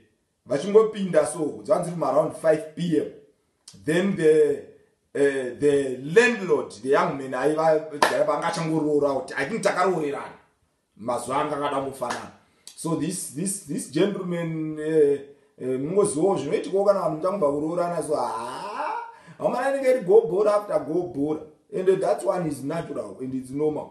vachingopinda so dzanzi ri around 5 pm then the uh, the landlord the young man aiva vanga changoroora kuti i think takaroorerana mazuva anga akada mufanana so this this this gentleman eh, eh, mungozivawo uh, uh, zvinoitikawo kana vanhu muchangobva kuroorana so haa amana inenge iri gobhora after gobhora and that's one is natural and its normal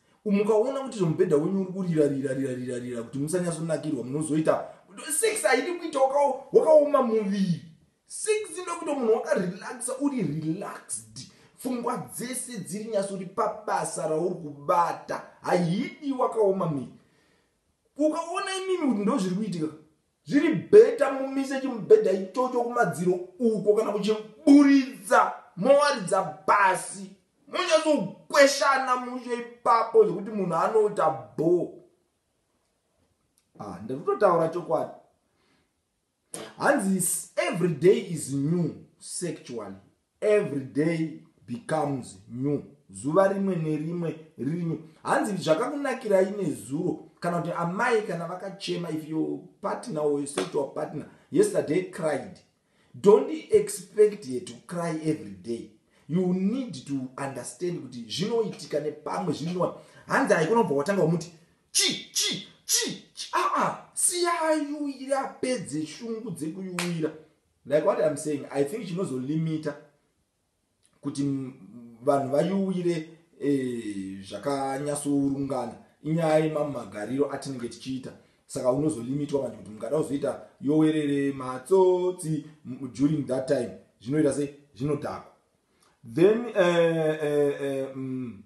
mukaona kuti zvomubhedha wenyu uri kurira rira rira rira rira kuti musanyatsonakirwa munozoita six haidi kuita wakaoma muviri six inoda kuita munhu wakarelaxa uri relaxed pfungwa dzese dziri nyatso uri pabasa rauri kubata haidi wakaoma miri ukaona imimi kuti ndozviri kuitika Zviri better mumise chimubhedha ichocho kumadziro uko kana kuchiburitsa mowaridza pasi monyatsokweshana mushe ipapo zvekuti munhu anoita bho. Ah, ndiri kutotaura chokwadi. Hanzi every day is new sexually. Every day becomes new. Zuva rimwe nerimwe riri new. Hanzi zvakakunakirai nezuro kana kuti amai kana vakachema if your partner or your sexual partner yesterday cried don't expect her to cry every day you need to understand kuti zvinoitika nepamwe zvinoa hanzi haikunobva watanga wamuti chi chi chi chi aa ah, ah, siyayuira apedze shungu dzekuyuira Like what I'm saying, I think chinozolimita kuti vanhu vayuwire eh, zvakanyasourungana inyaya yemamwe magariro atinenge tichiita saka unozolimitwa manje kuti mungada kuzoita yowerere matsotsi during that time zvinoita se zvinodhakwa then eh, eh, eh, mm,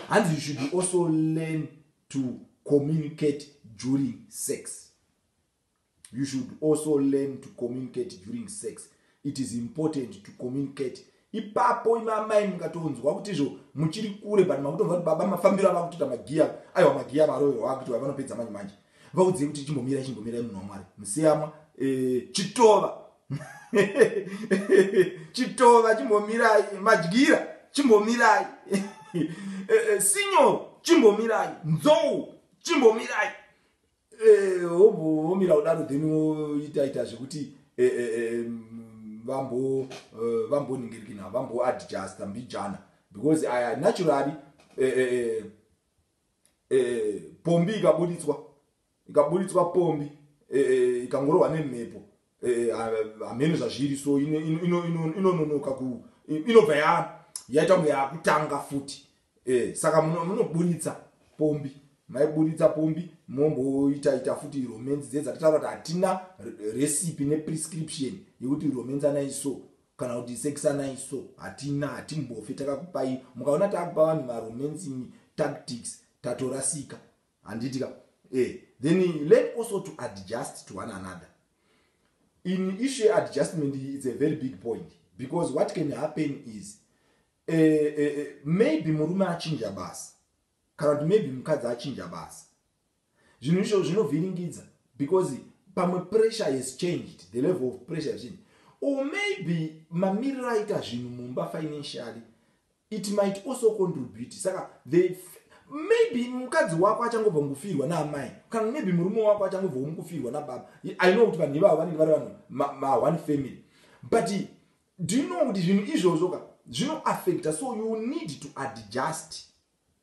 hanzi you should also learn to communicate during sex you should also learn to communicate during sex it is important to communicate ipapo imamai mungatonzwa kuti izvo muchiri kure but makutonzwa kuti baba mafambiro ava kutoita magiya aiwa magiya avaroyo vakuti vavanopedza manje manje vaudzei kuti chimbomirai chimbomirai munhu wamwari musiyamwa eh, chitova chitova chimbomirai madyira chimbomirai eh, eh, sinyo chimbomirai nzou chimbomirai Eh, womira kudaro then woita ita zvekuti eh, eh, vambo vamboningirikina vambo adjusta mbijana because aya naturally pombi ikabuditswa ikabuditswa pombi ikangorohwa nemhepo Eh, hameno zvazviri so inononoka ku inobva ya yaita kunge yakutanga futi eh, saka munoburitsa pombi maiburitsa pombi momboita ita futi romance dze dzatitaura kuti hatina recipe neprescription yekuti romance anai so kana kuti sex anai so hatina hatimbofe takakupai mukaona takupa vanhu maromance tactics tatorasika Handiti ka eh then learn also to adjust to one another in issue ye adjustment it's a very big point because what can happen is uh, uh, maybe murume achinja basa kana kuti maybe mukadzi achinja basa zvinhu izvo zvinovhiringidza because pamwe pressure has changed the level of pressure zvini or maybe mamiriro aita zvinhu mumba financially It might also contribute saka they maybe mukadzi wako achangobva mukufirwa naamai kana maybe murume wako achangobva mukufirwa nababa i know kuti vanhu ivavo vanenge vari vanhu maone family but do you know kuti zvinhu izvozvo ka zvinoaffecta so you need to adjust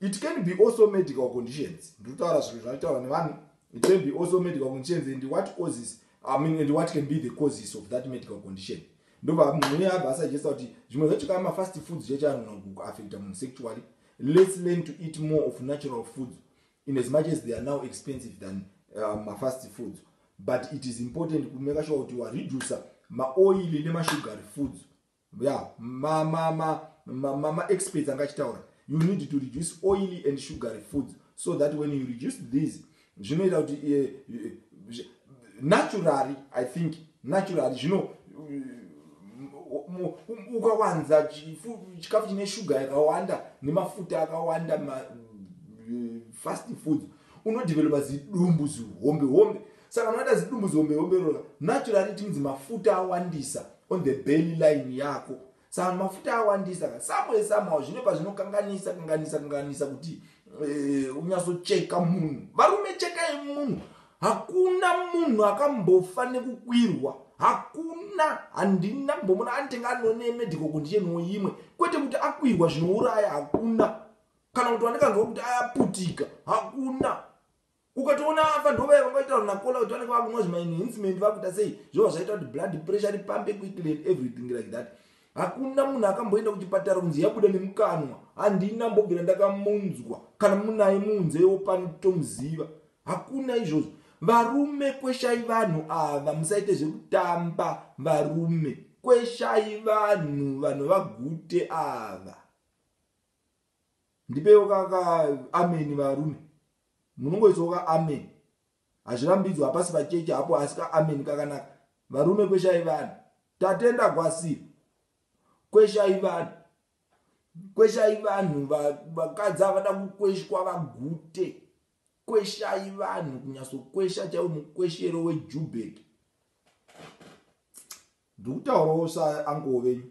it can be also medical conditions ndikutaura zvinhu zvataura nevanhu it can be also medical conditions and what causes i mean and what can be the causes of that medical condition ndobva mune abva asajesta kuti zvimwe zvacho kaa mafast foods chechanona kuaffecta munhu sexually let's learn to eat more of natural foods in as much as they are now expensive than uh, mafast foods but it is important kumeka sure kuti wareducer maoili nemashugary foods yeah ma ma ma ma, ma, ma experts anga achitaura you need to reduce oily and sugary foods so that when you reduce these zvinoita kuti eh, eh, naturally i think naturally zvino ukawanza chikafu chine shuga yakawanda nemafuta akawanda eh, fast foods unodevelopa zidumbu zihombe hombe Saka unoita zidumbu zihombe hombe rova naturally it means mafuta awandisa on the belly line yako. Saka mafuta awandisa ka somewhere somehow zvine pazvinokanganisa kanganisa kanganisa kuti eh, unyasocheka munhu. Varume chekai munhu. Hakuna munhu akambofa nekukwirwa hakuna handina kumbomona anitenga anone medical condition woimwe kwete kuti akwirwa zvinouraya hakuna kana kuti wandikanga kuti ayaputika hakuna ukatoona afa ndovaya vangaitaura nakola kuti vanenge vakunwa zvimaenhancement vakuita sei zvova zvaita kuti blood pressure ripambe quickly and everything like that hakuna munhu akamboenda kuchipatara kunzi yabuda nemukanwa handina mbobvira ndakamunzwa kana munaye muunzewo pano tomuziva hakuna izvozvo varume kweshai vanhu ava musaite zvekutamba varume kweshai vanhu vanhu vagute ava ndipewo ka ka ameni varume munongoisawo ka ameni hazvirambidzwa hapasi pacheche hapo asi ka ameni kakanaka varume kweshai vanhu tatenda gwasiro kweshai vanhu kweshai vanhu vakadzi avada kukweshwa vagute kweshai vanhu kunyasokwesha chaiwo mukweshero wejubeki ndikutaurawo saankowo venyu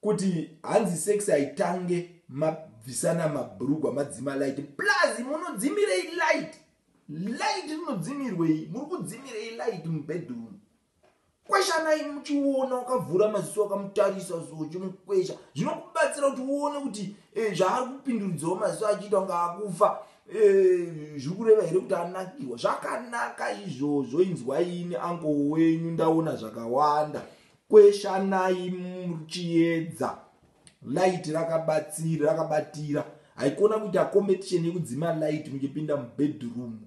Kuti hanzi sex haitange mabvisana mabhurugwa madzima light plus munodzimirei light light rinodzimirwei muri kudzimirei light mubedroom kweshanai muchiona wakavhura maziso wakamutarisa so uchimukwesha zvinokubatsira kuti uone kuti eh, zvaari kupinduridzawo maziso achiita kunge akufa eh, zviri kureva here kuti anakirwa zvakanaka izvozvo inzwaini ango wenyu ndaona zvakawanda Kweshanai muchiedza. Light rakabatsira, rakabatira. Haikona kuita competition yekudzima light muchipinda mubedroom.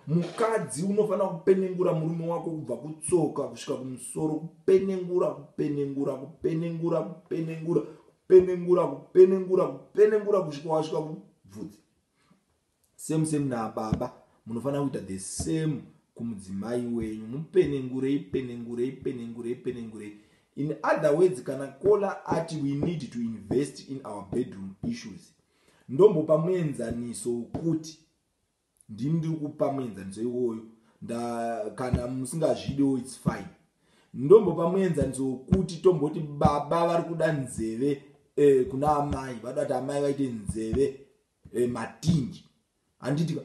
Mukadzi unofanira kupenengura murume wako kubva kutsoka kusvika kumusoro, kupenengura, kupenengura, kupenengura, kupenengura, kupenengura, kupenengura, kupenengura kusvika wasvika kubvudzi. Same same nababa munofanira kuita the same kumudzimai wenyu mupenengurei penengurei penengurei penengurei in other words kana kola ati we need to invest in our bedroom issues ndombopa muenzaniso wokuti ndini ndiri kupa muenzaniso iwoyo kana musingazvidewo its fine ndombopa muenzaniso wokuti tomboti baba vari kuda nzeve eh, kuna amai vada kuti amai vaite nzeve e, matinji handiti ka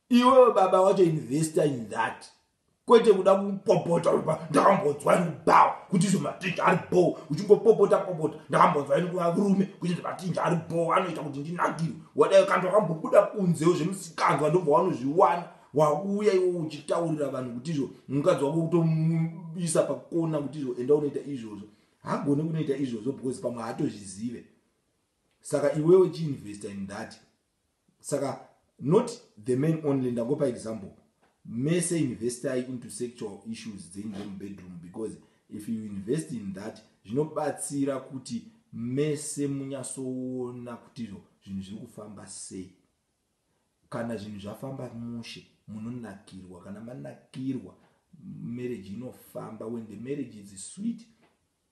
iwewe baba wacho investor in that kwete kuda kupopota uba ndakambonzwa ini kubawa kuti izvo matinji ari bho uchingopopota popota ndakambonzwa ini kuva rume kuti izvo matinji ari bho anoita kuti ndinakirwe wadayo kanti wakambobuda kunzewo zvemusikanzwa ndobva wanozviwana wauya iwo uchitaurira vanhu kuti izvo mukadzi wako kutomuisa pakona kuti izvo enda unoita izvozvo hagone kunoita izvozvo because pamwe haatozvizive saka iwewe chiinvesta in that saka not the man only ndangopa example mese investai into sexual issues dzenyu dzemubedroom because if you invest in that zvinobatsira kuti mese munyasoona kuti zvinhu zviri kufamba sei kana zvinhu zvafamba mushe munonakirwa kana manakirwa marriage inofamba when the marriage is sweet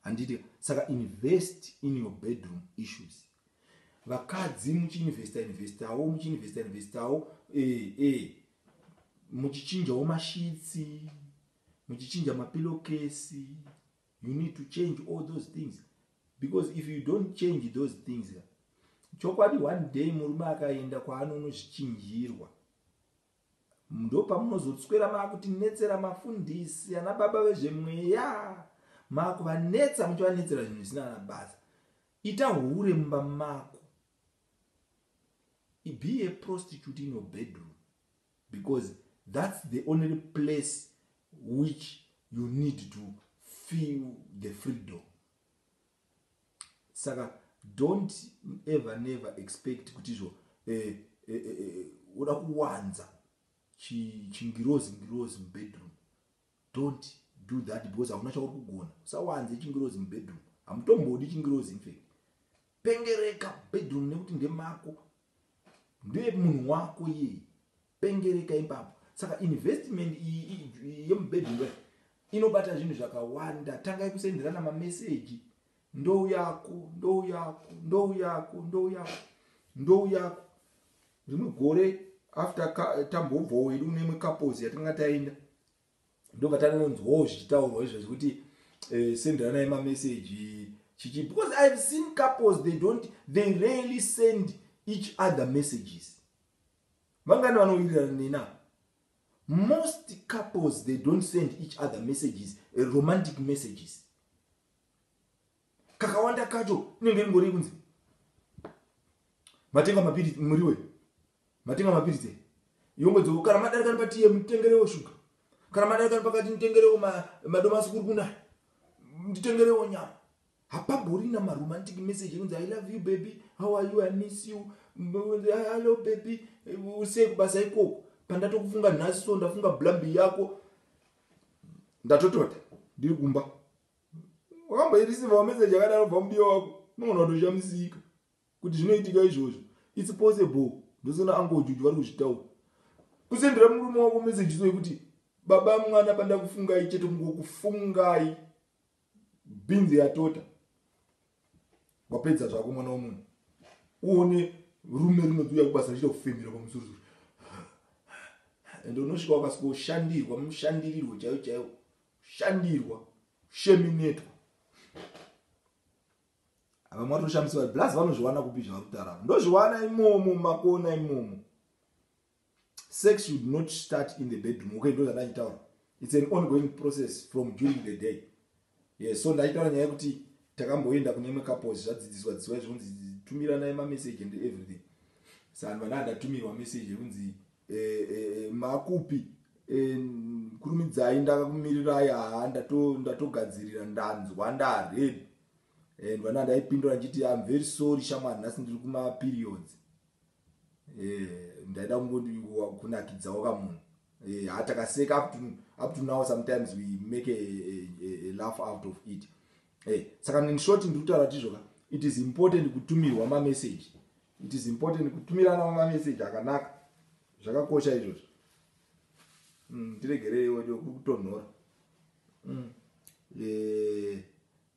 handiti saka invest in your bedroom issues vakadzi muchiinvesta investawo muchiinvesta investawo eh, eh. muchichinjawo mashitsi muchichinja mapilokesi you need to change all those things because if you don't change those things chokwadi one day murume akaenda kwaanonozvichinjirwa Ndopamunozotswera makutinetsera mafundisi ana baba vezvemweya makuvanetsa muchivanetsera zvinhu zvisina kana basa. Ita hure mumba mako. Be a prostitute in your bedroom because that's the only place which you need to feel the freedom. saka don't ever never expect kuti izvo eh, eh, eh, eh, uda kuwanza chingirozi ngirozi mubedroom don't do that because hauna chauri kugona usawanze chingirozi mubedroom hamutombodi chingirozi infact pengereka bedroom nekuti ndemako ndemunhu wako iyeye Pengereka ipapo. Saka investment iyi yemubedroom inobata zvinhu zvakawanda. Tangai kusenderana mameseji. Ndou yako, ndou yako, ndou yako, ndou yako, ndou yako. Rimwe gore after tambobvawo wedu kune imwe couples yatanga taenda ndobva tanonzwawo zvichitaurwa izvo zvekuti eh, senderanai mameseji chichi because ihave seen couples they don't they rarely send each other messages Vangani vanowirirana nena? Most couples they don't send each other messages, eh, romantic messages. Kakawanda kacho inenge ringori kunzi matenga mapiritsi muriwe matenga mapiritsi yongodzoko kana madarikani patiye mutengerewo shuga kana madarikani pakati nditengerewo madomasi kuri kunaya nditengerewo nyama Hapamborina ma romantic message ekunzi I love you baby, how are you, I miss you, hello baby, usei kubasa ikoko. Pandatokufunga nhasi so ndafunga blambi yako ndatotota ndiri kumba. Wakamboirisiva message yakadaro bva mudiwa wako unogona kutoshamisika kuti zvinoitika izvozvo. It's possible ndosona ango juju vari kuzvitaura kusendera murume wako message so yekuti baba mwana pandakufungai chete kungokufungai Bhinzi yatota. Wapedza zvako mwana womunhu. Uone rume rinodziuya kubasa richita kufemera pamusoro soro. Ende unosvika wakasvika ushandirwa mushandirirwo chaiwo chaiwo. Shandirwa. Sheminetwa. Ava mwari toshamisiwa. Blaz vanozviwana kupi zvavari kutaura. Ndozviwana imomo makona imomo. Sex should not start in the bedroom. Okay, ndoza ndachitaura. It's an ongoing process from during the day. Yes, so ndachitaura nyaya yekuti takamboenda kune imwe couples zvadzidziswa dzidziswa izvonzi tumiranai mamessage and everything. Sanhu vana ndatumirwa message yekunzi eh, eh, eh, makupi eh, kurumidzai ndakakumirirai haa ndatogadzirira ndato ndanzwa ndareb and vana ndaipindura ndichiti am very sorry shamwari nhasi ndiri kumaperiods eh ndaida kungondi kunakidzawo ka munhu eh ha takaseka up to up to now sometimes we make a, a, a, a laugh out of it eh saka in short ndiri kutaura kuti izvoka it is important kutumirwa ma message it is important kutumirana ma message akanaka zvakakosha izvozvo mm tiregerei wedo kutonhora mm eh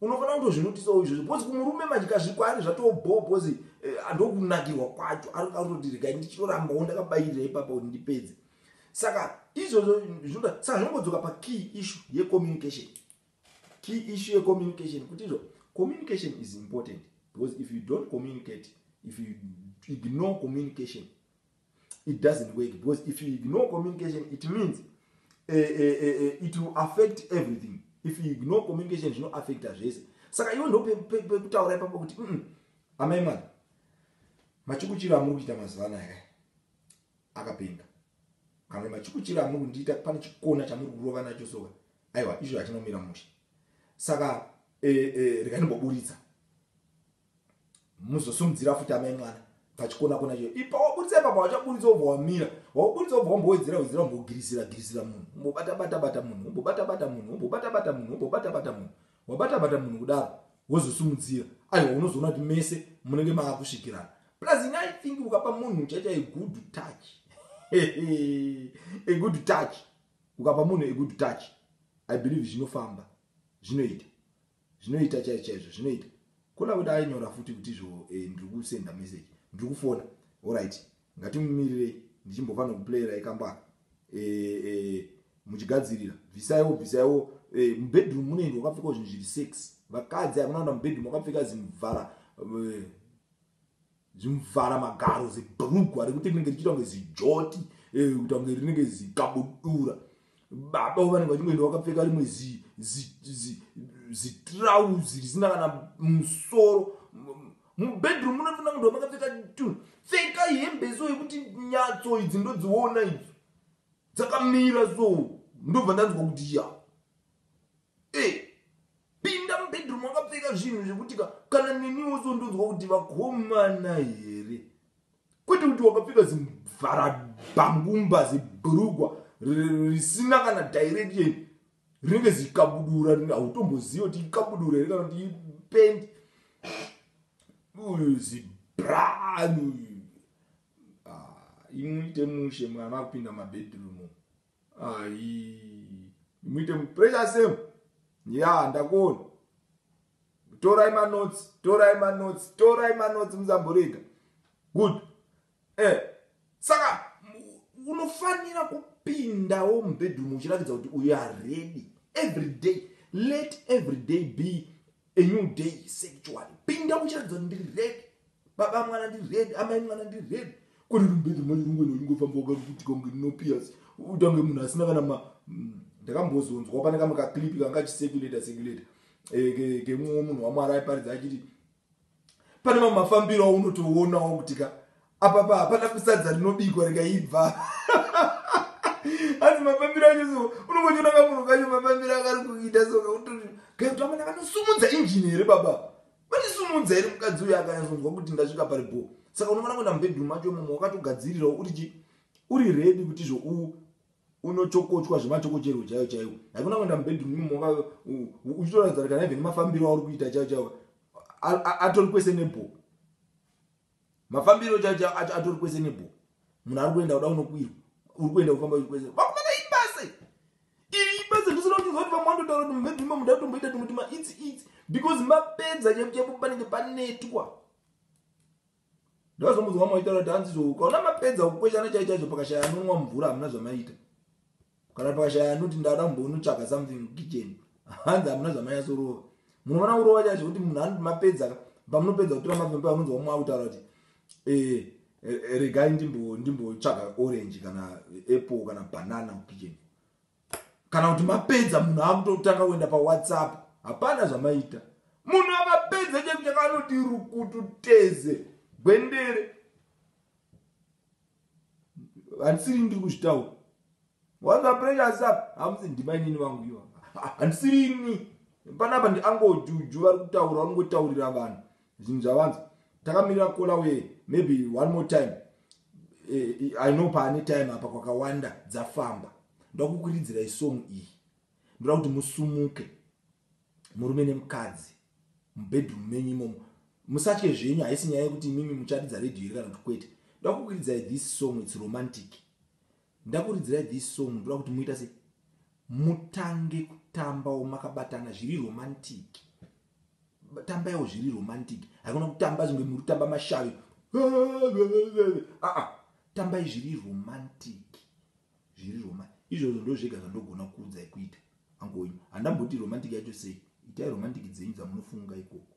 unofanira kutozvinutisawo izvozvo bcoz kumurume madyazvi kwaari zvatobhoo bcoz eh, andokunakirwa kwacho arikutoti regai ndichitorambawo ndakabayirira ipapa kuti ndipedze saka izvozvo zvinoda saka zvinongodzoka pakey issu yecommunication key issu yecommunication kuti izvo communication is important because if you don't communicate if you ignore communication it doesn't work because if you ignore communication it means uh, uh, uh, it will affect everything if you ignore communication zvinoaffecta zvese saka iwe ndo pekutaura ipapo kuti mm, amai mwana machikuchiro amuri kuita mazuva anaya akapenga kana machikuchiro amuri kundiita pane chikona chamuri kurova nacho soka aiwa izvo hachinomira musha saka e, e, rekanimboburitsa muzosumudzira futi amai mwana pachikona kona chio ipa waburitsa ipapa wachaburitsa obva wamira waburitsa obva wambowedzera wedzera umbogirisira girisira munhu umbobata bata bata munhu umbobata bata munhu umbobata bata munhu umbobata bata munhu wabata bata munhu kudaro wozosumudzira aiwa unozoona kuti mese munenge maakusvikirana plus ini i think ukapa munhu uchaita a good touch a good touch ukapa munhu a good touch i believe zvinofamba zvinoita Zvinoita chaizvo chaizvo zvinoita. Kona kuti ainyora futi kuti izvo eh, ndiri kusenda message, ndiri kufona. Alright, ngatimumirirei ndichimbova nokuplayera ikambaka. Eh, eh, muchigadzirira bvisaiwo bvisaiwo eh, mubedroom munoendwa wakapfekawo zvinhu zviri sex vakadzi hamunaona mubedroom wakapfeka zimuvhara eh, Zvimvara magaro zibhurugwa rekuti rinenge richiita kunge zijoti eh, kuita kunge rinenge zikabudura. Baba vanenge vachingoenda vakapfeka rimwe zitrauzi risina kana musoro mubedroom munotoona kunge makapfeka tunhu pfeka hembe so yekuti nyatso idzi ndodziona idzi dzakamira so ndobva ndanzwa kuti ya Hey. Pinda mubedroom wakapfeka zvinhu zvekuti ka kana neniwo so ndonzwa kuti vakomana here kwete kuti wakapfeka zimvarabangumba zibhurugwa risina kana direction rinenge zikabudura hautomboziva kuti ikabudura here kana kuti ipendi zibranu ah, imuite mushe mwana akupinda mabedroom Ayi. Muite mu pressure same. Yeah, ndakuona. Torai ma notes, torai ma notes, torai ma notes musamborega. Good. Eh. Saka unofanira kupindawo mu bedroom uchiratidza kuti uyu are ready every day. Let every day be a new day sexually pinda uchiratidza kuti ndiri red baba mwana ndiri red amai mwana ndiri red kuri rumbedzi mwana rungu ino ingofamba wakakutika kunge ndinopias utange munhu asina kana ma mm, ndakambozonzwa pane kamwe kaclipi kanga chisekuleta sekuleta eh, kemumwe munhu wamwari aiparidza achiti pane mamwe mafambiro aunotoonawo kuti ka apapa hapana kusadza rinobikwa rikaibva asi mafambiro acho so unongochiona kamunhu kacho mafambiro akari kuita soka utoti kakuti amana vanosumudza injini here baba vanisumudza here mukadzi uyo akanyazonzwa kuti ndasvika pari bho saka unofanira kuenda mubedroom macho mumwe wakatogadzirirawo uri chi uri redi kuti zvo u unochokochwa zvemachokocherwo chaiwo chaiwo haikuna kuenda mubedroom mumwe uchitoradzana kana even mafambiro auri kuita chaiwo chaiwo atori kwese nebho mafambiro chacho atori kwese nebho munhu ari kuenda kuda unokwirwa uri kuenda kufamba uri kwese vakumana ibasa iri ibasa ndisina kuchinzwa kuti vamwe vanotaura kuti maybe ma muda kutomboita tumwe tuma itsi itsi because mapedza chekuchekupanenge panetwa Ndozomuzwa moitaura kuti hanzi zvo ukaona mapedza kukweshana chaichaizvo pakashaya anonwa mvura hamuna zvamaita. Kana pakashaya anoti ndada kumbonotsvaga something mukitchen hanzi hamuna zvamanyasorova. Munoona kurova chaizvo kuti munhu anoti mapedza ka pamunopedza kutora mavembe anonzwa umwe akutaura kuti eh, eh, regai ndimbotsvaga orange kana apple kana banana mukitchen kana kuti mapedza munhu akutotanga kuenda pawhatsapp hapana zvamaita munhu akapedza chaiku chaka anoti rukutu teze gwendere handisiri ndiri kuzvitaura wanza precious up hamusi ndima inini vangu iwa handisiri ini panapa ndiangojuju vari kutaura vanongotaurira vanhu zvinhu zvavanzi takamirira kola uye maybe one more time eh, eh, i know paane time apa kwakawanda dzafamba ndakukuridzira isong iyi ndoda kuti musumuke murume nemukadzi mubedroom menyu imomo musatye zvenyu haisi nyaya yekuti imimi mucharidza radio iri kana kuti kwete ndoda kukuridzai this song its romantic Ndakuridzirai this song ndoda kuti muita se mutange kutambawo makabatana zviri romantic. Tambaiwo zviri romantic. Hakuna kutamba zvinge muri tamba mashavi. Ah ah. Tambai zviri romantic. Zviri romantic. Izvozvo ndozvega zvandogona kuudzai kuita. Angowenyu. Handamboti romantic yacho sei. Itai romantic dzenyu dzamunofunga ikoko.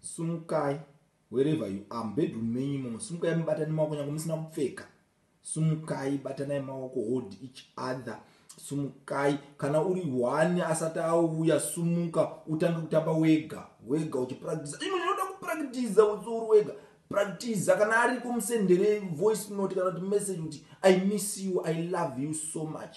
sumukai wherever you are mubedroom menyu imomo sumukai mubatani maoko nyange musina kupfeka sumukai batanai maoko hold each other sumukai kana uri one asati auya sumuka utange kutamba wega wega uchipractisa ino inoda kupractisa utsiuri wega practisa kana ariko musendere voice note kana kuti message kuti i miss you i love you so much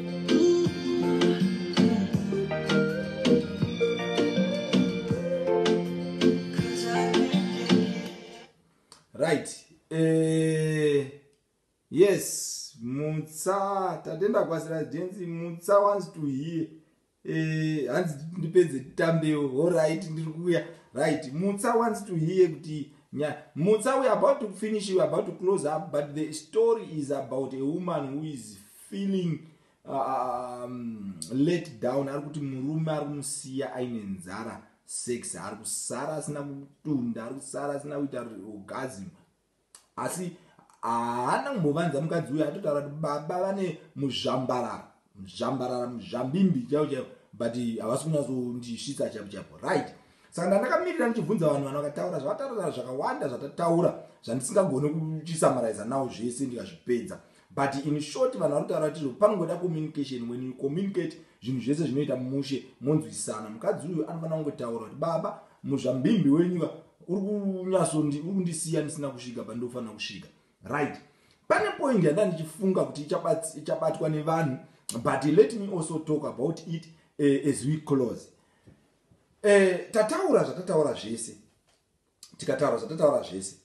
right eh, yes mutsa tatenda kwasira jensi mutsa wants to hear eh, hanzi ndipedze tambewo horit ndiri kuuya right mutsa wants to hear kuti nya mutsa we about to finish we about to close up but the story is about a woman who is feeling uh, um, let down ari kuti murume ari kumusiya aine nzara sex ari kusara asina kutunda ari kusara asina kuita orgasm asi haana kumbovanza mukadzi uyo atotaura kuti baba vane muzvambarara muzvambarara muzvambimbi chaivo chaivo but havasi kunyatsondisvitsa chaivo chaivo right saka ndandakamirira ndichibvunza vanhu vanhu vakataura zvavataura zvakawanda zvatataura zvandisingagone kuchisamaraiza nawo zvese ndikazvipedza but in short vanhu vari kutaura tizvo panongoda communication when you communicate zvinhu zvese zvinoita mushe monzwisana mukadzi uyu anofanira kungotaura kuti baba muzvambimbi wenyuka uri kunyasonuri kundisiya ndisina kusvika pandofanira kusvika right pane point yanda ndichifunga kuti ichabatwa nevanhu but let me also talk about it uh, as we close uh, tataura zvatataura zvese tikataura zvatataura zvese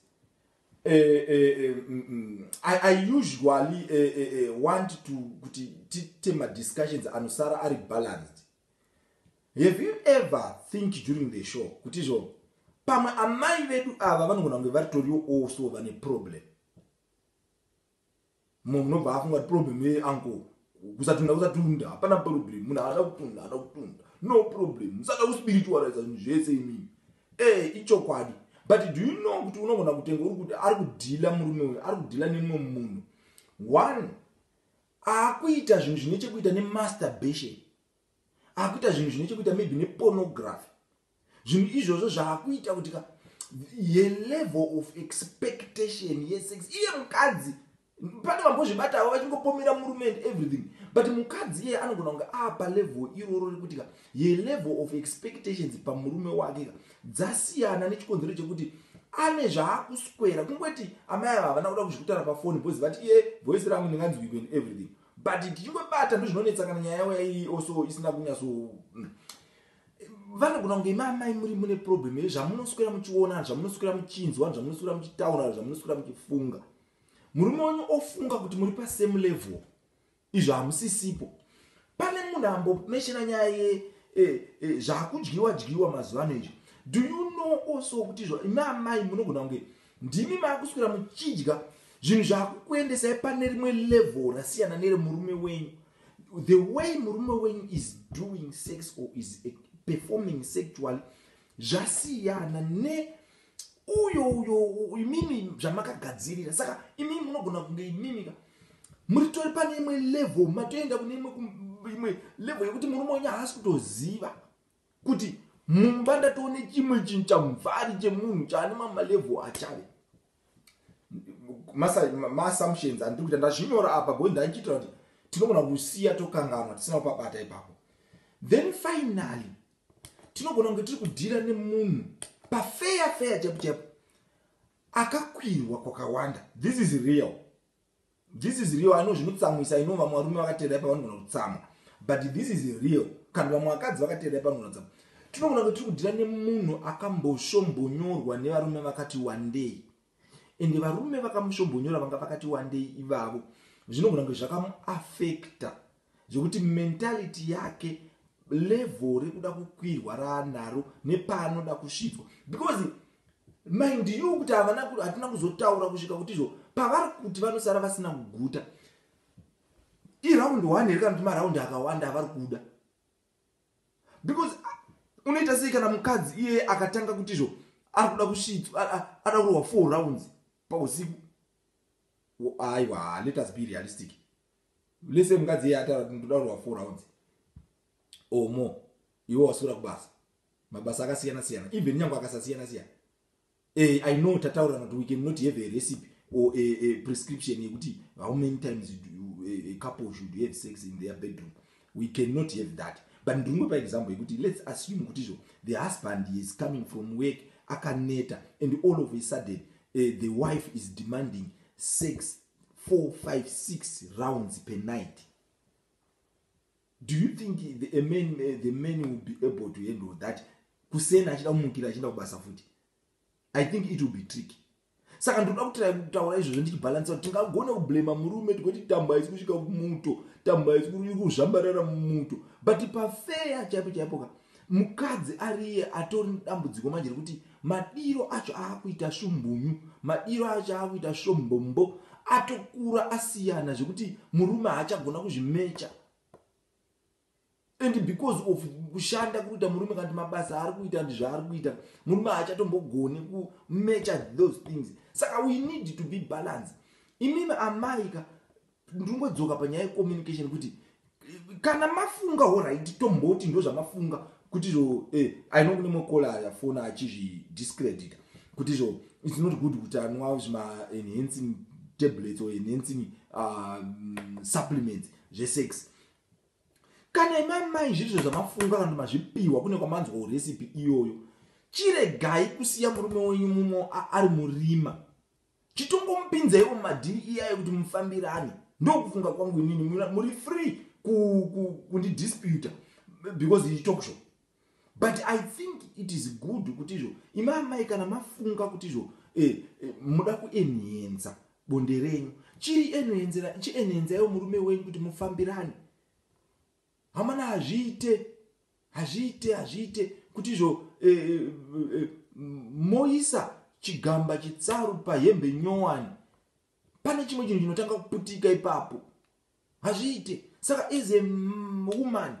eh, eh, eh, mm, mm. I, i usually eh, eh, eh, want to kuti tiite madiscussions anosara ari balanced have you ever think during the show kuti izvo pamwe amai vedu ava vanogona kunge varitoriwo also vane problem Mumwe munobva afunga kuti problem ye uncle kusatunda kusatunda hapana problem munhu haada kutunda haada kutunda no problem musada kuspiritualiza zvinhu zvese imini ee eh, ichokwadi but do you know kuti unogona kutenga uri kuti ari kudhila murume uyo ari kudhila nemumwe munhu one akuita zvinhu zvine chekuita nemasturbation akuita zvinhu zvine chekuita maybe nepornography zvinhu izvozvo zvaakuita kuti ka ye level of expectation yesex iye mukadzi pane vambozvibatavo vachingopomera murume and everything but mukadzi iye anogona kunge apa level iroro rekuti ka ye level of expectations pamurume wake ka dzasiyana nechikonzero chekuti ane zvaakuswera kungoti amai ava havana kuda kuzvikutana pafoni bcause vati iye voice rangu ndinganzwiko and everything but tichingobata ndozvinonetsa kana nyaya yavo yaiyi also isina kunyatso mm, vanogona kunge imi amai muri mune problem here zvamunoswera muchiona zvamunoswera muchinzwa zvamunoswera muchitaura zvamunoswera muchifunga murume wenyu ofunga kuti muri pasame level izvo hamusisipo pane munhu ambomeshena nyaya ye eh, eh, zvakudyiwa dyiwa mazuva ano izvo do you know also kuti izvo imi amai munogona kunge ndimi maakuswera muchidya zvinhu zvakukuendesai pane rimwe level rasiyana neremurume wenyu the way murume wenyu is doing sex or is performing sexually zvasiyana ne uyo uyo imimi zvamakagadzirira saka imimi munogona kunge imimika muri tori pane imwe level matoenda kune imwe imwe level yekuti murume wenyu haasi kutoziva kuti mumba ndatoone chimwe chinhu chamvari chemunhu chaane mamalevel achave maassumptions andiri kuita ndazvinyora apa boi ndaichiitira kuti tinogona kusiya tokanganwa tisina kupabata ipapo then finally tinogona kunge tiri kudhira nemunhu pafeya feya chaipo chaipo akakwirwa kwakawanda this is real This is real. I know zvinotsamwisa. I know vamwe varume vakateerai pavanogona kutsamwa. But this is real. Kana vamwe vakadzi vakateerai pavanogona kutsamwa. Tinogona kuti tiri kudhira nemunhu akamboshomhonyorwa nevarume vakati wandei. Ende varume vakamushombonyora vanga vakati wandei ivavo. Zvinogona kuti zvakamuaffecta Zvekuti mentality yake level rekuda kukwirwa raanaro nepaanoda kusvitswa because mind you kuti havana hatina kuzotaura kusvika kuti izvo pavari kuti vanosara vasina kuguta iraundi one here kana kuti maraundi akawanda avari kuda because unoita sei kana mukadzi iyeye akatanga kuti izvo ari kuda kusvitswa ada kurohwa four rounds pausiku aiwa let us be realistic listen mukadzi iye ataura kuti ndoda kurwa four rounds or more iwe wasura kubasa mabasa akasiyana siyana even nyange akasasiyana siyana eh i know tataura kuti we can not have a recipe or a, a prescription yekuti how many times you do, a, a couple should have sex in their bedroom we can not have that but ndingopa example yekuti let's assume kuti izvo the husband is coming from work akaneta and all of a sudden uh, the wife is demanding sex four five six rounds per night do you think the, a man, uh, the man will be able to handle that kuseni achida kumukira achienda kubasa futi i think it will be tricky saka ndoda kutira kutaura izvozvo ndichibhalansa kuti tingagona kublema murume tikoti tamba isi kusvika kumuto tamba isi kuzvambarara mumuto but pafeya chaipo chaipoka mukadzi ariye atori nedambudziko manje rekuti madiro acho aakuita shumbunyu madiro acho aakuita shombombo atokura asiyana zvekuti murume haachagona kuzvimecha and because of kushanda kuita murume kanti mabasa aari kuita ndi zvaari kuita murume haachatombogoni kumecha those things saka we need to be balance imimi amaika ndingodzoka panyaya yecommunication kuti kana mafunga horaiti tomboti ndo zvamafunga kuti zvo eh, i know kune makola ayafona achizvidiscredita kuti zvo its not good kuti anwa zvimaenhancing tablets or enhancing uh, supplements zvesex kana imamai zvirizvo zvamafunga kana mazvipiwa kune kwamanzwawo recipe iyoyo chiregai kusiya murume wenyu mumwe ari murima chitongomupinzaiwo mumadhiri iyayo kuti mufambirane ndokufunga kwangu inini muri free kundidisputa because iyi talk show but i think it is good kuti izvo ima amai kana mafunga kuti izvo eh, eh, muda kuenhenza bonde renyu chiri enhenzera chienhenzaiwo murume wenyu kuti mufambirane Amana hazviite hazviite hazviite kuti izvo e, e, e, moisa chigamba chitsaru pahembe nyowani pane chimwe chinhu chinotanga kuputika ipapo hazviite saka as a woman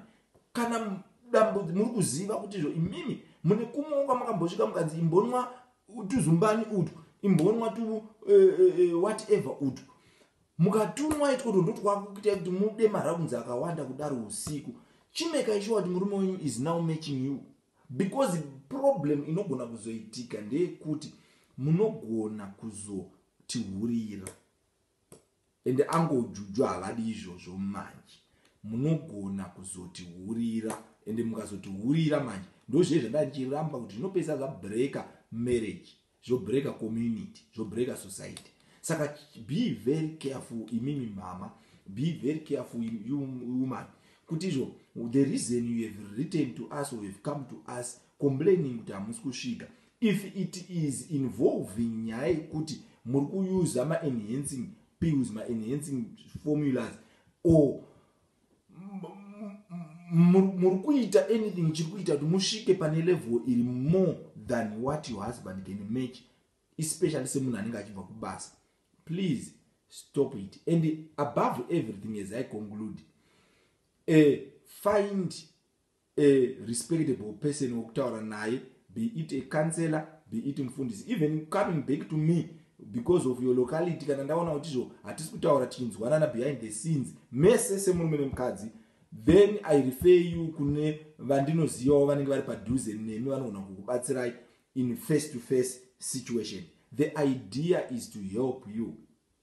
kana dambo muri kuziva kuti izvo imimi mune kumwewo kwamakambosvika mukanzi imbonwa tuzumbani utu imbonwa tu uh, uh, whatever utu Mukatumwa itwoto ndotwakukitai kuti mude marounds akawanda kudaro usiku. Chimekai sure kuti murume wenyu is now matching you because problem inogona kuzoitika ndeyekuti munogona kuzotihurira and uncle Juju havadi izvozvo manje munogona kuzotihurira and mukazotihurira manje ndozviye zvandandichiramba kuti zvinopesa zvabreaker marriage zvobreaker community zvobreaker society saka be very careful imimi mama be very careful you woman kuti izvo the reason you have written to us or have come to us complaining kuti hamusi kusvika if it is involving nyaya yekuti muri kuyuza maenhancing pills maenhancing formulas or muri kuita anything chiri kuita kuti musvike pane level iri more than what your husband can match especially semunhu anenge achibva kubasa please stop it and above everything as i conclude uh, find a respectable person wekutaura naye be it a councellor be it mufundisi even coming back to me because of your locality kana ndaona kuti izvo hatisi kutaura tichinzwanana behind the scenes mese semurume nemukadzi then i refer you kune vandinozivawo vanenge vari padhuze nemi vanogona kukubatsirai in face to face situation the idea is to help you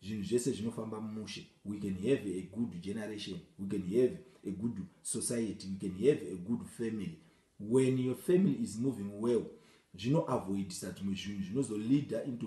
Zvinhu zvese zvinofamba mumushe. We can have a good generation. We can have a good society. We can have a good family. When your family is moving well, zvinoavoidisa dzimwe zvinhu zvinozoleader into